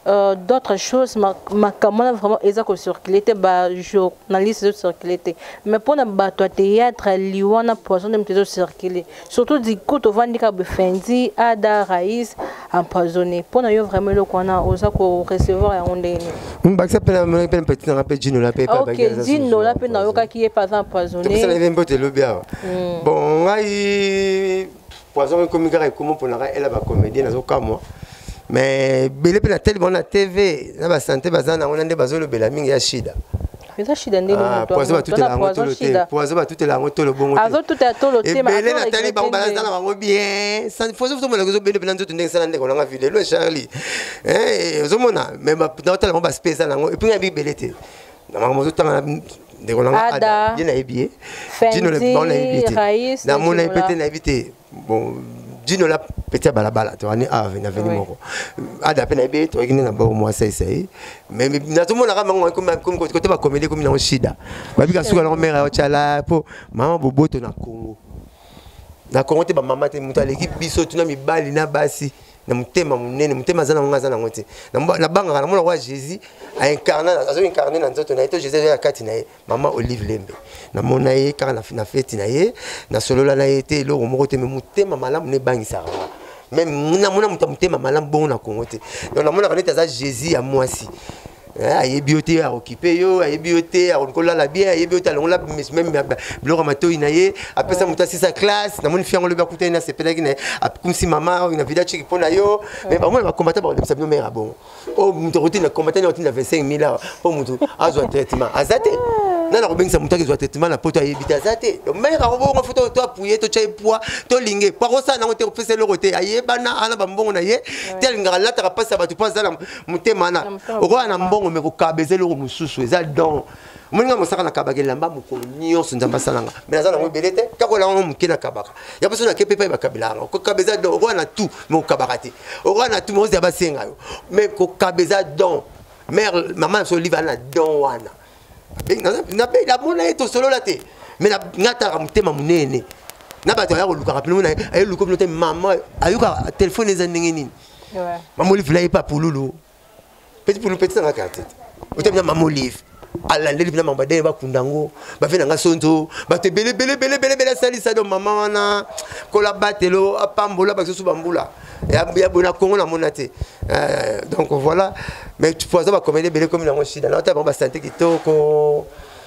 Euh, d'autres choses makambo wana vraiment eza kocircule te bajournaliste ezocircule te mais mpona bato ya théâtre liwa na poison nde moto ezocircule surtout diku tovandi kaka befendi ada rais empoisonné mpona yo vraiment eloko wana oza korecevoir yango ndenge nini bakisa mpe namonaki mpe petit nanga mpe jinola mpe ok jinola mpe nayokaki ye mpe aza empoisonné mbote elobi awa bon ngai poison ekomi kaka ekomo mpona ka ela bacomédien nazokamwa mais bele mpe na tele bango na tv na basante baza nango na nde bazolobela mingi ya shida eza shida ndenge ah, poison batutela yango tolo te poison batutela yango tolo bongo teebele natali bango baza na bango bien fozotomona ozobende mpena nzoto ndenge sala ndeko nanga vile lo charlie eh, ozomona mais naotala yango baspesa na yango epuki ya bibele te na makambo ozotanga na ndeko na nga ada ye nayebi ye dino le bon nayebi ye te namona ye mpe te nayebi te bon dino la peti ya balabala toani ave na veni moko ada mpe nayebi ye toyaki nde na bao mwasi aisa ye mais nazomonaka bango kote bakomeli ekomi nango shida babika suka nango mare yaocala mpo mama boboto na congo na congo te bamama te moto aleki biso tuna mibali na basi na motema monene motema aza nango aza nango te nabangaka namona kwa jésus aincarne azo incarne na nzoto na ye to jésus aza na kati na ye mama olive lembe namona ye kaka na feti na ye nasolola na ye te eloko moko te me motema malamu nebangisaka nga meme namona moto ya motema malamu bongo na kongo te donc namonaka neti aza jésus ya mwasi Eh, ayebi yo te aokipe yo ayebi yo te akoki kolala bien ayebi yo te alongola meme biloko ya matoi na ye apesa moto asisa classe namoni fi yango lobi akutani nasepelaki na ye akumisi mama oyo na vida chiki mpo na yo me bango na bakombata bakolembisa bino mare ya bongo oyo oh, moto akotinda kombatani akotinda 25 mille awa mpo moto azwa traitement aza te nani akobengisa moto akezwa traitement na poto ayebi te aza te mare akobongo fo to apuye to tya ye poi tolinge po akosala nango te kopesa eloko te ayebana ana bambongo na ye te alingaka alataka mpasi ya bato mpo aza motema wana okoya na mbongo me kokaba eza eloko mosusu eza don moninga mosaka nakabaka elamba mokolo nyonso nzambe asalanga me naza nango ebele te kaka olanga ngo moke nakabaka ya biso nake mpe epai bakabelaka ngo kokaba eza don okoya na tout me kokabaka te okoya na tout me ozala basenga yo me kokaba eza don mare mama na biso olive ana don wana namona ye tosolola te me nga talaka motema monene na bato aya kolukaka mpe aye luka bino te mama ayoka telefone eza ndenge nini Ouais. Maman Olive là est pas pour Loulou. Petit pour le petit dans la carte. Autant bien Maman Olive. alandeli mpena mambo badele bakunda yango bafe na nga sonzo bato ebele bele bele bele bele asalisa do mama wana kola batelo apambola basusu bambula ya boye na congo namona te eh, donc voilà mais po aza bakomeli ebele komi nango shida na ata bango basante kitoko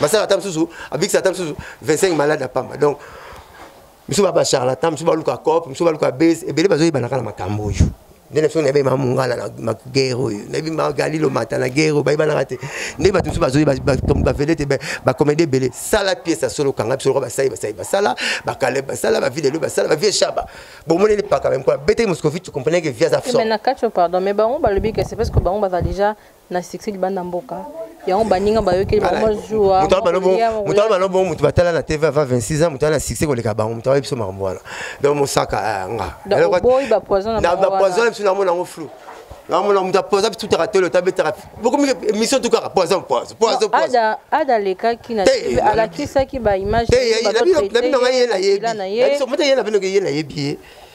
basala ata mosusu abikisa ata mosusu 25 malade ya pamba donc misu ba bacharlatan misu baluka cop misu baluka base ebele bazoyebanaka na makambo oyo nde na biso nayebi ma mongala na magere oyo nayebi ma galilo mata na gere oyo bayebanaka te nde bato mosusu bazoyi bavele te bakomedi ebele sala piese ya solo kanga biso lokola basali basali basala bakale basala bavile elo basala bavie shaba bomoni elipaka bamkola beteki moscovite comprene ke via za fso na kacho pardon mais bango balobi ke c'est parce que bango baza déjà na succès libanda mboka yango baninga bayokeli bamozuamoto bana bongo moto batala na tv ava 26 ans moto ana succès koleka bango moto ayebi biso makambo wana donc mosaka eh, ngabapoison na biso namona yango flou namona moto apoza biso tutaka tolo tabetaka bokomi émission tu kaka poison poison poison poison ada lekaki na tv alakisaki ba image te nabi na ngai ye na yebi na biso moto ye na bino ke ye na yebi ye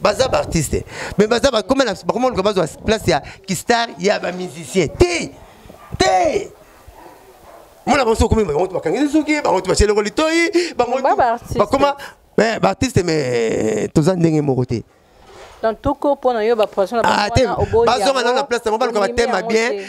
baza baartiste mais baza bakoma luka bazwa place ya kistar ya bamusicien te te mona banso okomi bango to bakangisi suki bango to basye eloko litoi bango bakoma eh, baartiste mais eh, toza ndenge moko te donc toko mpo na yo bapoison na ah, bazonga nano na place yango baluka batema bien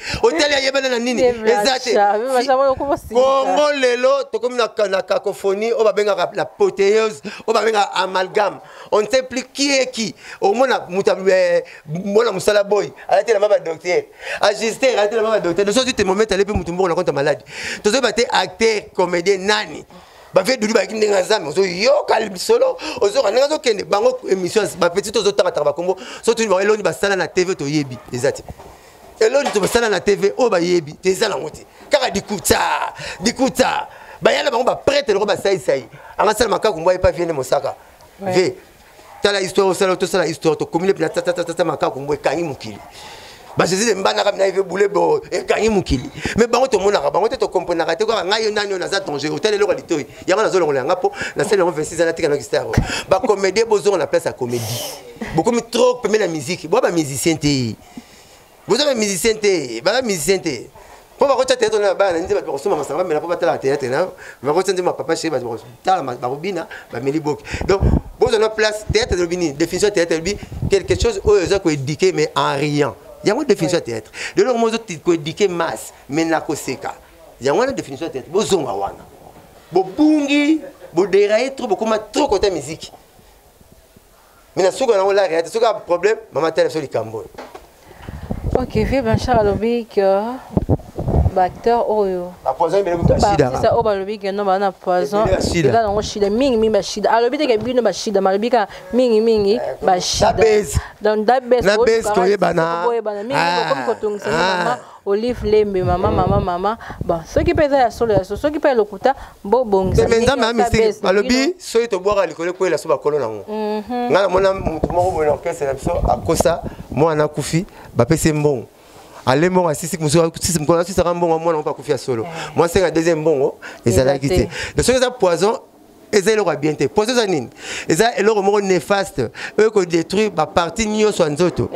otali ayebana na nini eza te kongo lelo tokomi na cacophonie oyo babengaka la poteuse oyo babengaka amalgame on ne sait plus qui est qui omona moto eh, mwana mosala boy alati elamba badocteur ajuster alati elamba badocteur noso ozwi temomete alepi motu mbongo na konta maladi tozoyeba te acteur comédien nani bavie dudi bayaki ndenge ya zame ozoyoka lisolo ozoyoka ndenge azokende bango émission bapetit ozotanga tanga bakombo so tuni bango eloni basala na tv toyebi eza te elongi to basala na tv oyo bayebi te eza nango te kaka dikuta dikuta bayala bango baprete loko basaisai angasala makaku mbwa epa viende mosaka ve tala histoire osala tosala histoire tokomi lepi na tatatata makaku mbwa ekangi mokili bajezi de mbandaka mina eve bule bo ekangi mokili me bango tomonaka bango te tokomprenaka te kaka ngai yo nani oyo naza danger otali eloko ya litoi yango nazolongola yanga mpo nasali yango 26 ans natika noki star bacomédie bozonga na place ya comédie bokomi trop pembe na miziki boya bamusicien te boza ba musicien te baza musicien te mpo bakotya teatre na bana nde bato bakosomba masanga bamela mpo batalaka teatre na bakotya nde mapapa chéri bato bakotala bakobina bameli boki donc bozwa na place teatre elobi nini définition ya teatre elobi quelque chose oyo eza koéduquer mais en riant yango définition ya teatre lelo yango mozo koéduquer masse mais na koseka yango wana définition ya teatre bozonga wana bobungi boderaye trop bokoma trop kota miziki mais na suka nango laka ya te soki a problème mama tala biso likambo oyo ok vieux blanchard alobi que baacteur oyo baartiste oyo balobi ke no baa na poison eza nango shida mingimingi bashida alobi teke bino bashida malobi kaka mingimingi eh, bashida donc dabes koyebana mingi bokomi kotungisa mama Olive Lembe mama mama mama bon soki mpe eza ya solo ya solo soki mpe ya lokuta bobongisa mais nzambe ya mystique balobi soki tobwaka likolo ekwela so bakolo nango mhm. ngai namona moto moko boye na orkestre na biso akosa mwana akufi bapesi mbongo ale mbongo asisi mosusu mokolo asusaka mbongo mwana moko akufi ya solo eh. mwasi ya deuxième mbongo ezalaki te soki eza poison eza eloko ya bien te poison eza nini eza eloko moko néfaste oyo ekodétruire bapartie nyonso ya nzoto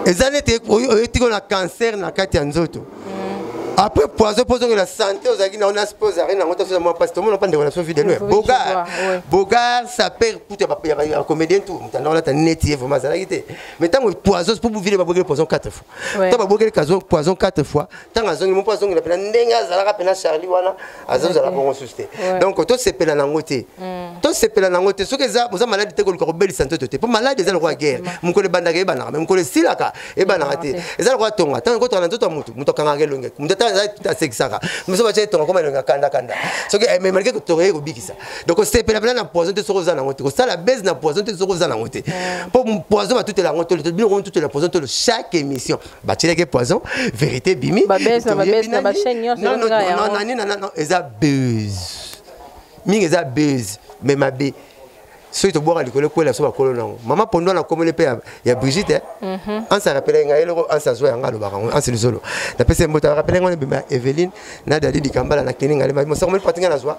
eza neti oyetiko na cancer na kati ya nzoto mm. après poison mpo ozongela santé ozalaki na ona spo ozalaki nango tosoza mwa mpasi tomona mpa ndeko na so vide loin bogar bogar sapere kutu ya comédien tu motanda olata neti ye vraimen azalaki te mais ntango poison mpo bovile babwekeli poison 4 fois ntango babwekeli poison 4 fois ntango azongi mo mpo azongela mpena ndenge azalaka mpena charlie wana azozala bongo susu te donc tosepela nango te mm. tosepela nango te soki eza oza maladi te koluka kobelisa nzoto te mpo maladi eza lokola guerre mokolo ebandaka ebanaka me mokolo esilaka ebanaka te eza lokola tonga ntango ekotonga na nzoto ya motu moto akangaka elongi moto asekisaka moso batya etonga koma elongi akandakanda soki ememalike eh, kotonga ye kobikisa donc osepela mpena na poison te soki oza nango te kosala base na poison te soki oza nango te mpo poison batutela yango tolo bino komitutela poison tolo chaque émission batyelaki poison vérité ebimi eza buse mingi eza buse mais mabe soki tobwaka likolo ekwela biso bakolo nango mama pondo na komeli mpe ya brigite eh? mhm. anse arapele ngai eloko anse azwa yango alobaka yango anse lisolo napesi mbota arapele ngai ebima eveline na dadi likambala na keni ngai mosako meli pati ngai nazwa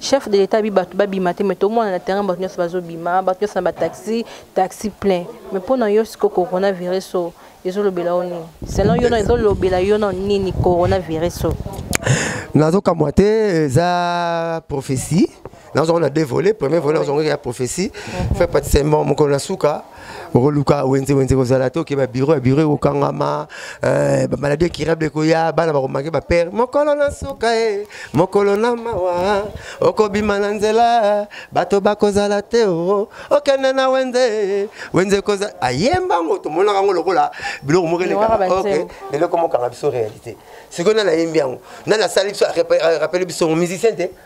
chef de l'etat bi bato babima te mais tomona na terrain bato nyonso bazobima bato nyonso na bataxi taxi plein mais mpo na yo siko coronavirus oyo ezolobela yo nini selon yo ezolobela yo na nini coronavirus oyo nazokamwa te eza prophétie nazongo na deux volets premier volet nazongo ya prophétie mhm. fait patise mokolo na suka okoluka wenze wenze kozala te okeba biro ya biro ekokangama eh, bamaladi ekirable ekoya bana bakomange bapere mokolo na suka e mokolo na mawa okobima na nzela bato bakozala te o okende na wenze wenze kozala ayemba yango tomonaka yango lokola biloko moko elekaka eloko mokanga biso réalité sikoyo nani ayembi yango nani asali biso arapele biso musicien te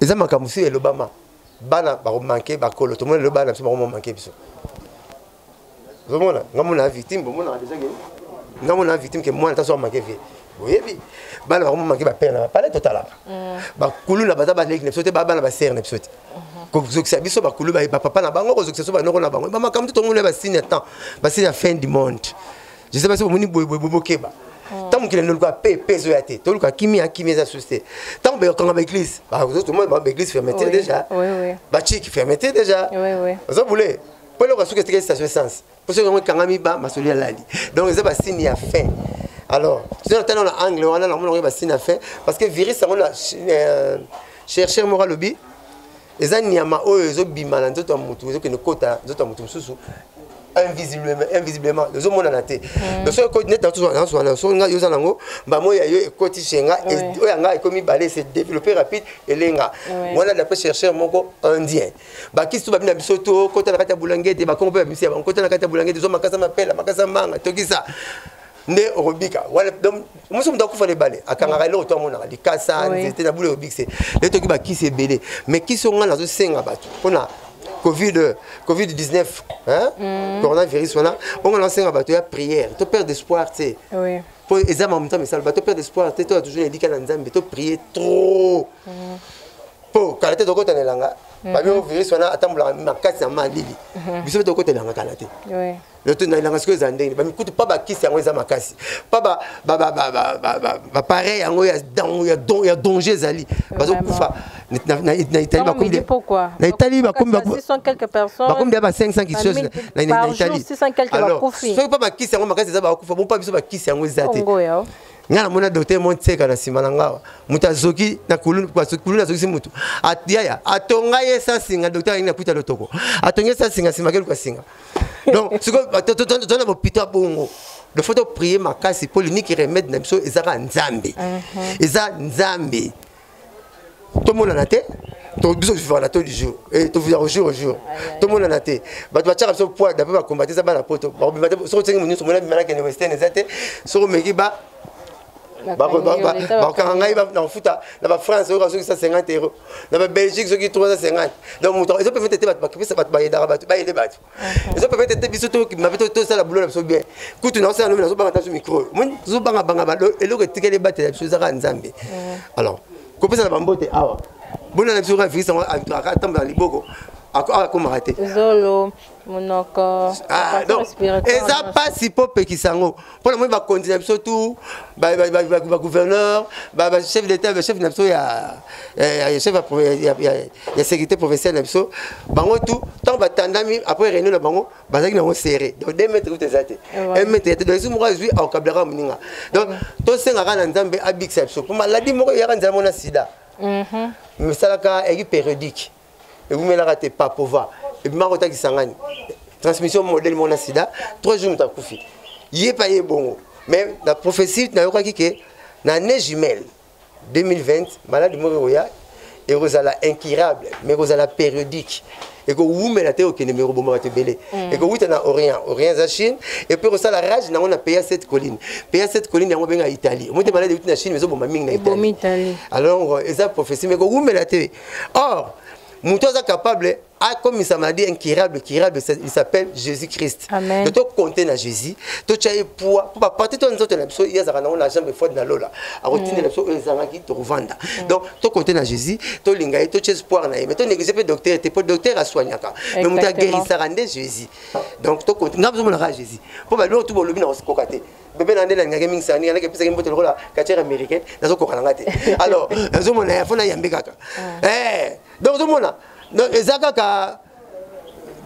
eza makambo mosusu elobama bana bakomanke bakolo tomona lelo bana biso bakomomanke biso ozomona nga mona victime bomonaka deja ke nga mona victime ke mwana taso amanke vie oyebi bana bakomomanke bapere na bapale totalaka mm. bakulu na baza baleki na biso te babana basere na biso te kozokisa biso bakulu bapapa na bango kozokisa biso banoko na bango bamakambo to tomona basine ya temps basine ya fin du monde je sais pas soki omoni boye boye boye bokeba oh. ntango mokili noluka pe pe ezoya te toluka kimia kimia eza susi te ntango bakanga baeglise bazotomona bango baeglise fermeté déjà bachiki fermeté déjà ozo boule mpo eloko asuki etikali station essence mpo soki yango ekangami ba masoli alali donc eza basine ya fin alors soki natana na angle wana namona yango basine ya fin parce que virus yango na euh, chercheur moko alobi eza nyama oyo ezobima na nzoto ya motu ezokende kota nzoto ya motu mosusu invisiblement invisiblement ozo mona na te hmm. donc soki net na tozwa na tozwa na soki ngai oza nango mbamo ya yo ekoti chez nga oya ngai ekomi balé c'est développé rapide elenga wana d'après chercheur moko indien bakisi to babina biso to kota na kati ya bulangete bakongo mpe babimisi ya bango kota na kati ya bulangete zwa makasa mapela makasa manga tokisa nde okobika wana donc mosusu moto akufa na ebale akangaka eloko to amonaka likasa nzete na bule obikise nde toki bakisi ebele mais kisi oyo ngai nazosenga bato mpona covid covid 19 hein? Mm. coronavirus wana oyo ngai nazosenga bato ya prière to perdre espoir te oui. mpo eza makambo nzambe esala bato perdre espoir te toya toujours elika na nzambe to prier trop mpo mm. kala te tokota na elanga mm-hmm. babi oyo virus wana atambolaka makasi na malili mm-hmm. biso mpe tokota elanga kala te loto na elanga sikoyo ezala ndenge nini bamikutu mpa bakisi yango eza makasi mpa bapareil yango ya danger ezali bazokufa na italie bakomi na italie bakomi ya ba 500 kisos na italie soki mpa bakisi yango makasi eza bakufa bo mpa biso bakisi yango eza te ngai namona docteur mo nseka na nsima na ngawa moto azoki na kulunu azokisi motu yaya atonga ye esansinga docteur alingi na kwita lotoko atongi esansinga nsima akeluka singa donc sikoyo tozana bopito ya bongo de faut toprie makasi mpo liniki remede na biso eza kaka nzambe uh-huh. eza nzambe tomonana te biso tofivana to jour eh, tofivaka jour jour tomonana te bato batiaka biso poa dape bakombate eza bana poto bakobima te soki osengi monyoso mona bima nakende western eza te soki omeki ba bakokanga ngai na kofuta na bafrance oyo bazokisa 50 euro na babelgique soki 350 donc moto ezo permettre te bato bakipesa bato bayedaka bato bayede bato ezo permettre te biso mabe tosala bulo na biso bien kutu naosala nomi nazobanga taso micro omoni tozobangabanga eloko etikeli ebatela biso ezaka nzambe alors kopesa na bambote awa bona na biso kaka virus yango atambola liboko akomaka te zolo Ah, eza mpasi mpo opekisa yango mpo na moi bakonzi na biso tu bagouverneur bachef d'état bachef na biso ya chef ya sécurité provinciale na biso bango tu ntango batandami après réunion na bango bazalaki nango serré donc de mètre kuta eza te mètre ya te donc esu moko azwi aokablaka moninga donc tosengaka na nzambe abikisa biso mpo maladi moko eyaka nzala mona sida esalaka mhm. eki périodique ewumelaka te papova ebimaka kota kisangani transmission modèle mona sida trois jours moto akufi ye pa ye bongo mais na prophétie nayokaki ke na année jumelle 2020 maladi moko ekoya ekozala incurable mais ekozala périodique ekowumela te okende me ekoboma bato ebele mm. ekowuta na orient orient eza chine epuis ekosala rage nango na pays ya cette colline pays ya cette colline yango benga italie omoi te maladi euti na chine ezoboma mingi na italie alors eza prophétie mais ekowumela te or moto aza capable akomisa maladie incurable curable il s'appelle jésus christ to tokonte na jésus totya ye poa mpo baparti to nzoto na biso ye azalaka nango na jambe fode na lola akotindela mm. biso oyo ezangaki tokovanda mm. donc tokonte na jésus tolinga ye totya espoir na ye mais tonéglige mpe docteur te mpo docteur asoignaka mais moto agerisaka nde jésus donc tokonte ngai bizomonaka jésus mpo baloko tu bolobi na kokoka te bebe na nde nalingaki mingi sani alaki epesaki mbote lokola katiere américain nazokoka na nga te alors nazomona ya fo nayambi kaka ah. eh, donc ozomona eza kaka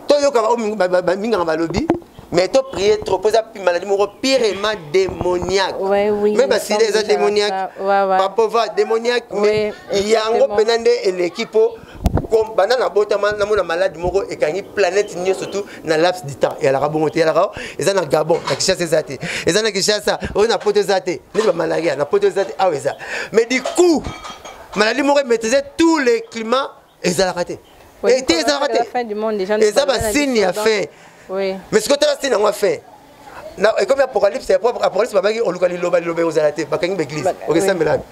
toyokaka bamingaka balobi mais to prier trop mpo eza maladi moko pirema démoniaque me basida eza démoniaque papova démoniaque mais yango mpena nde eleki mpo banda nabotama namona malade moko ekangi planète nyonso tout na laps du temps eyalaka bongo te eyalaka eza na gabon na kinshasa eza te eza na kinshasa oyo na poto eza te neti bamalaria na poto eza te awa eza mais du coup maladie moko emaîtrise tous les climats ezalaka te ete ezalaka te eza basigne ya fin mais soki otala signe yango ya fin na ekomi apocalypse apocalypse babaki oluka liloba liloba ekozala te bakangi baeglise okesambela wapi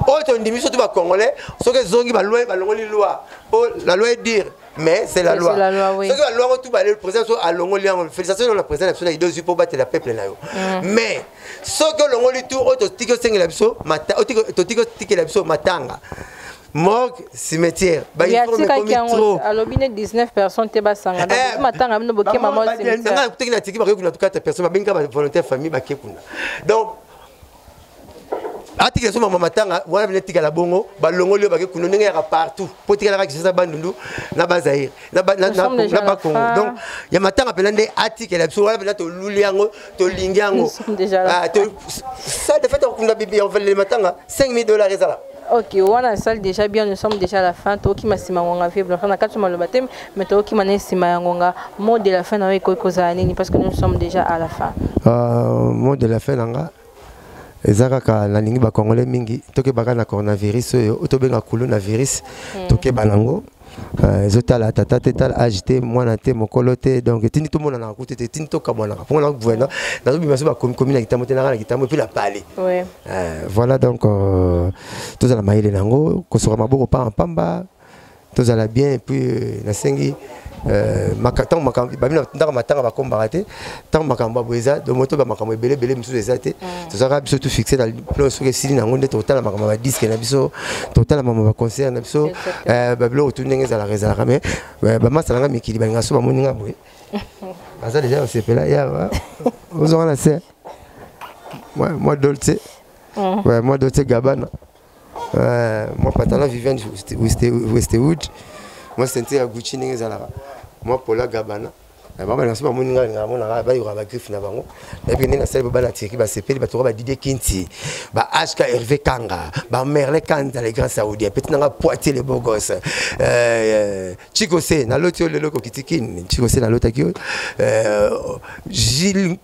oyo tondimi surtout bacongolais soki ezongi baloi balongoli loi po la loi dire mais c'est la loi soki baloi yango tu bale président so alongoli yango félicitation na président na biso na idée ozwi mpo obatela peuple na yo mm. mais soki olongoli tu oyo totiki osengela biso oyo totiki otikela biso matanga morgue cimetière bayatikaki yango alobi ne 19 personnes te basanga eh, matanga bino bokema mosanga kutaki na tiki bakoki kuna tukata personne babengi kaka volontaire famille bake kuna donc atikela so mama matanga wana bino etikala bongo balongoli yo bake kuna ndenge yaka partout mpo etikalaka kisasa bandundu na bazaire na bakongo donc ya matanga mpenza nde atikela biso wana mpenza toluli yango tolingi yango ah, sa defete akokunda bibi ya matanga 5000 dollars ezala ok wana esali déjà bien nous sommes déjà à la fin tokima nsima ngonga vie blanche na kati maloba te mais tokima na nsima ya ngonga mot de la fin na yo ekoki kozala nini parce que nous sommes déjà à la fin uh, mot de la fin na nga eza kaka nalingi bacongolais mingi tokebaka na coronavirus oyo tobenga kuluna virus hmm. tokeba nango mm. Euh, ezotala tata te tala age te mwana te mokolo te donc etindi tomonanaka kutu te etindi tokabwanaka mpo nga gouverneur nazobima so bakomikomi na kitambo te nanga na kitambo epuis na pale euh, voilà donc euh, tozala mayele na yango kosoka maboko mpamba mpamba tozala bien epuis nasengi ntango babi na ndaka matanga bakombaka te ntango makambo ya boye eza domoto bamakambo ebele ebele mosusu eza te mm. tozalaka biso tu fixe na plan soki esili na yango nde totala makambo ya badiske na biso totala makambo ya baconcert na biso eh, babiloko tu ndenge ezalaka ezalaka mai eh, bamasa na nga mikili balinga so bamoni nga boye baza deja basepela yawa ozonga na se mwa dolce mm. mwa dolce gabana eh, mwa patala vivian westwood mwa sente ya gucci ndenge ezalaka mwa pola gabana na bango na so bamoni ngai na mona ngai bayoka ba griffe na bango na pe ndenge asali ba bana tirki ba sepeli ba toka ba Didier Kinti ba HK Hervé Kanga ba Merle Kanda les grands saoudiens petit nanga poitier les beaux gosses euh, euh Chico C na loti yo lelo ko kitikin Chico C na lotaki yo euh Gilles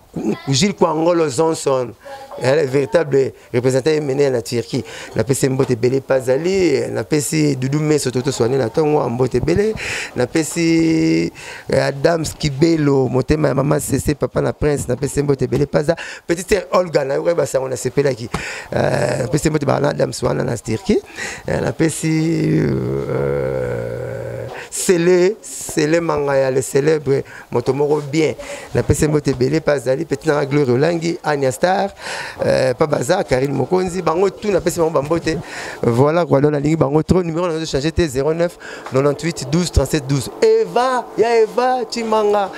Jules Kwangolo Johnson, le véritable représentant mené na Turquie. Na pesi mbote belé pazali, na pesi Doudou Meso toto soigné na tongo mbote belé, na pesi eh, Adam Skibelo, motema maman Cessé papa na prince, na pesi mbote belé paza, petite sœur Olga na yoka ba sango na sepela ki. Euh, na pesi mbote ba na Adam Swana na Turquie, euh, na pesi euh, Sele, Sele Mangaya, le célèbre moto moko bien napesi mbote ebele mpe azali peti nanga gloire olangi ania star euh, pa baza karine mokonzi bango tu napesi bango bambote voilà quoi donc nalingi bango trop numéro nazo change te 09 98 12 37 12 eva ya eva chimanga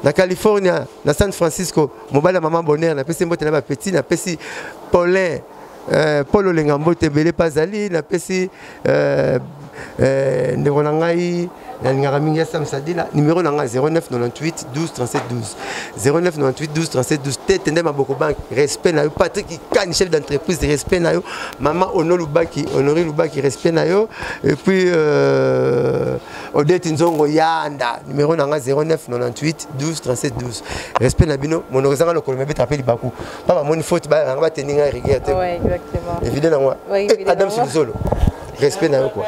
na california na san francisco mobali ya mama bonheur napesi mbote na bapetit napesi paulin eh, paul olenga mbote ebele mpe azali napesi eh, eh, ndeko na ngai nalingaka mingi ya sam sadila numero na ngai 0998 12 0998 12 tete nde maboko banki respect na yo patrik ikani chef d'entreprise respect na yo mama ono lubaki honori lubaki respect na yo epuis euh, odete nzongo yanda numero na ngai 0998 12 respect na bino monoko ezanga lokolo mabetaka mpe libaku ba bamoni faute bayanga batendi ngai rigueur te evide na moi eh, adam silizolo respect na yo quoi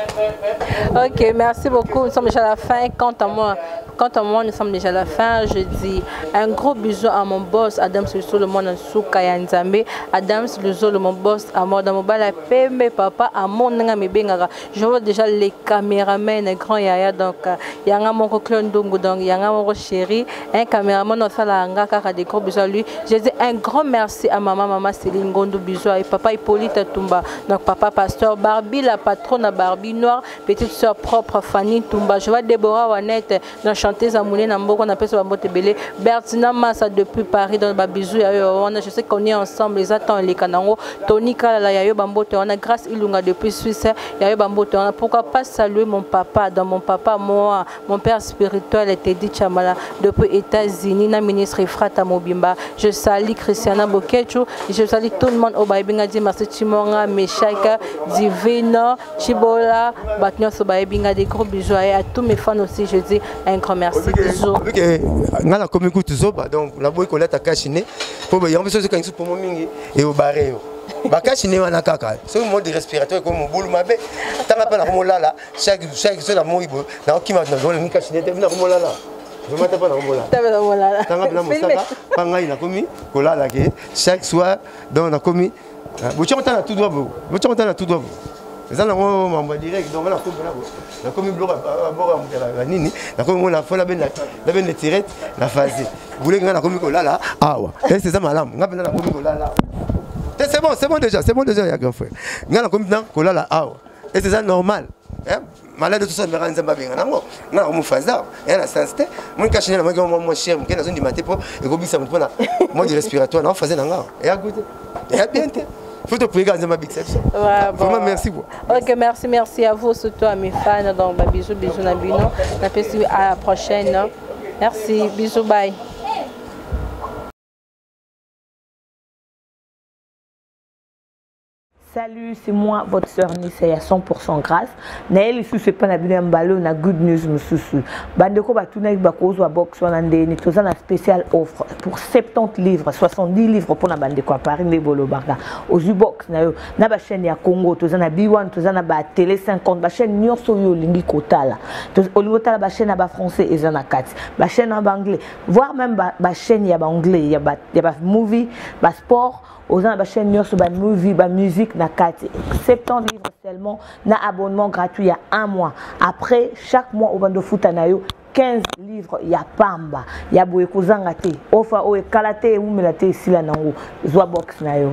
ok merci beaucoup nous sommes déjà à la fin quant à moi Quant à moi, nous sommes déjà à la fin. Je dis un gros bisou à mon boss, Adams Lusolo, mon Souka Yanzambe. Adams Lusolo, mon boss, à moi, dans mon bala, pembe, papa, à mon nanga, me bengara. je vois déjà les caméramen grand yaya donc euh, yanga moko clone ndungu donc yanga moko chéri un caméraman osalaka nga kaka des gros bisous à lui je dis un grand merci à maman maman Céline Gondou bisous et papa Hippolyte Tumba donc papa pasteur Barbie la patronne Barbie noire petite soeur propre Fanny Tumba je vois Déborah Wanette na chanteuse ya monene na mboka napesa bambote ebele bertina masa depuis paris donc babizou ya yo wana je sais qu'on est ensemble eza temps eleka nango tony kalala ya yo bambote wana grâce ilunga depuis suisse ya yo bambote wana pourquoi pas saluer mon papa dans mon papa moi mon père spirituel tedi chamala depuis états-unis na ministre efrata mobimba je sali christiana bokechu je sali tout le monde oyo bayebi nga di merci chimonga meshaka divino Chibola, Batnyo Sobaebinga, des gros bisous et à tous mes fans aussi, je dis un grand merci. Bisous. Nga na komi kutu zoba, donc na boyi kolata kashi ne, po ba yambe sozo kangisu pomo mingi, e o bare yo. Ba kashi ne wana kaka, so mo de respiratoire ko mo bulu mabe, tanga pa na ko lala, chaque chaque so na mo ibo, na ko kima na zone mi kashi ne te na ko lala. tomata mpo na komolala tanga mpena mosaka mpa ngai nakomi kolala ke chaque soir donc nakomi Ah, botia kota na tudwa bo botia kota na tudwa bo eza nango mambo ya direct donc nakomi mpona bo nakomi biloko aboko ya moto ya nini nakomi ngo na fo nabende tirete na fase boleki ngai nakomi kolala awa ese eza malamu ngai mpenza nakomi kolala awa te c'est bon c'est bon déjà c'est bon déjà ya grand frère ngai nakomi mpenza kolala awa ese eza normal malade tout ça mera nzambe abenga nango nga omu faza ya na sens te moni kashi na maki mwa mwa cher mke nazondima te mpo ekobisa mpo na mode respiratoire na faza na nga ya goût te ya bien te faut te prier nzambe abikisa biso vraiment merci quoi ok merci merci à vous surtout à mes fans donc ba bisous bisous na bino na pesi à la prochaine merci bisous bye Salut, c'est moi, votre sœur Nissa ya 100% grâce. Na ye lisusu epa na bino ya mbala oyo na good news mosusu. Bandeko batunaki bakozwa box wana ndeni toza na spécial offre pour 70 livres, 70 livres mpo na bandeko ya Paris nde bolobaka. Ozwi box na yo na ba chaîne ya Congo, toza na B1, toza na ba télé 50, ba chaîne nyonso oyo olingi kotala. Olingi kotala ba chaîne ya ba français eza na kati, ba chaîne ya ba anglais, voire même ba, ba chaîne ya ba anglais, ya ba, ya ba movie, ba sport oza na bachaîne nyonso bamovie bamusique na kati 70 livres seulement na abonnement gratuit ya un mois après chaque mois obanda ofuta na yo 15 livres ya pamba ya boye kozanga te ofa oyo ekala te ewumela te esila nango zwa box na yo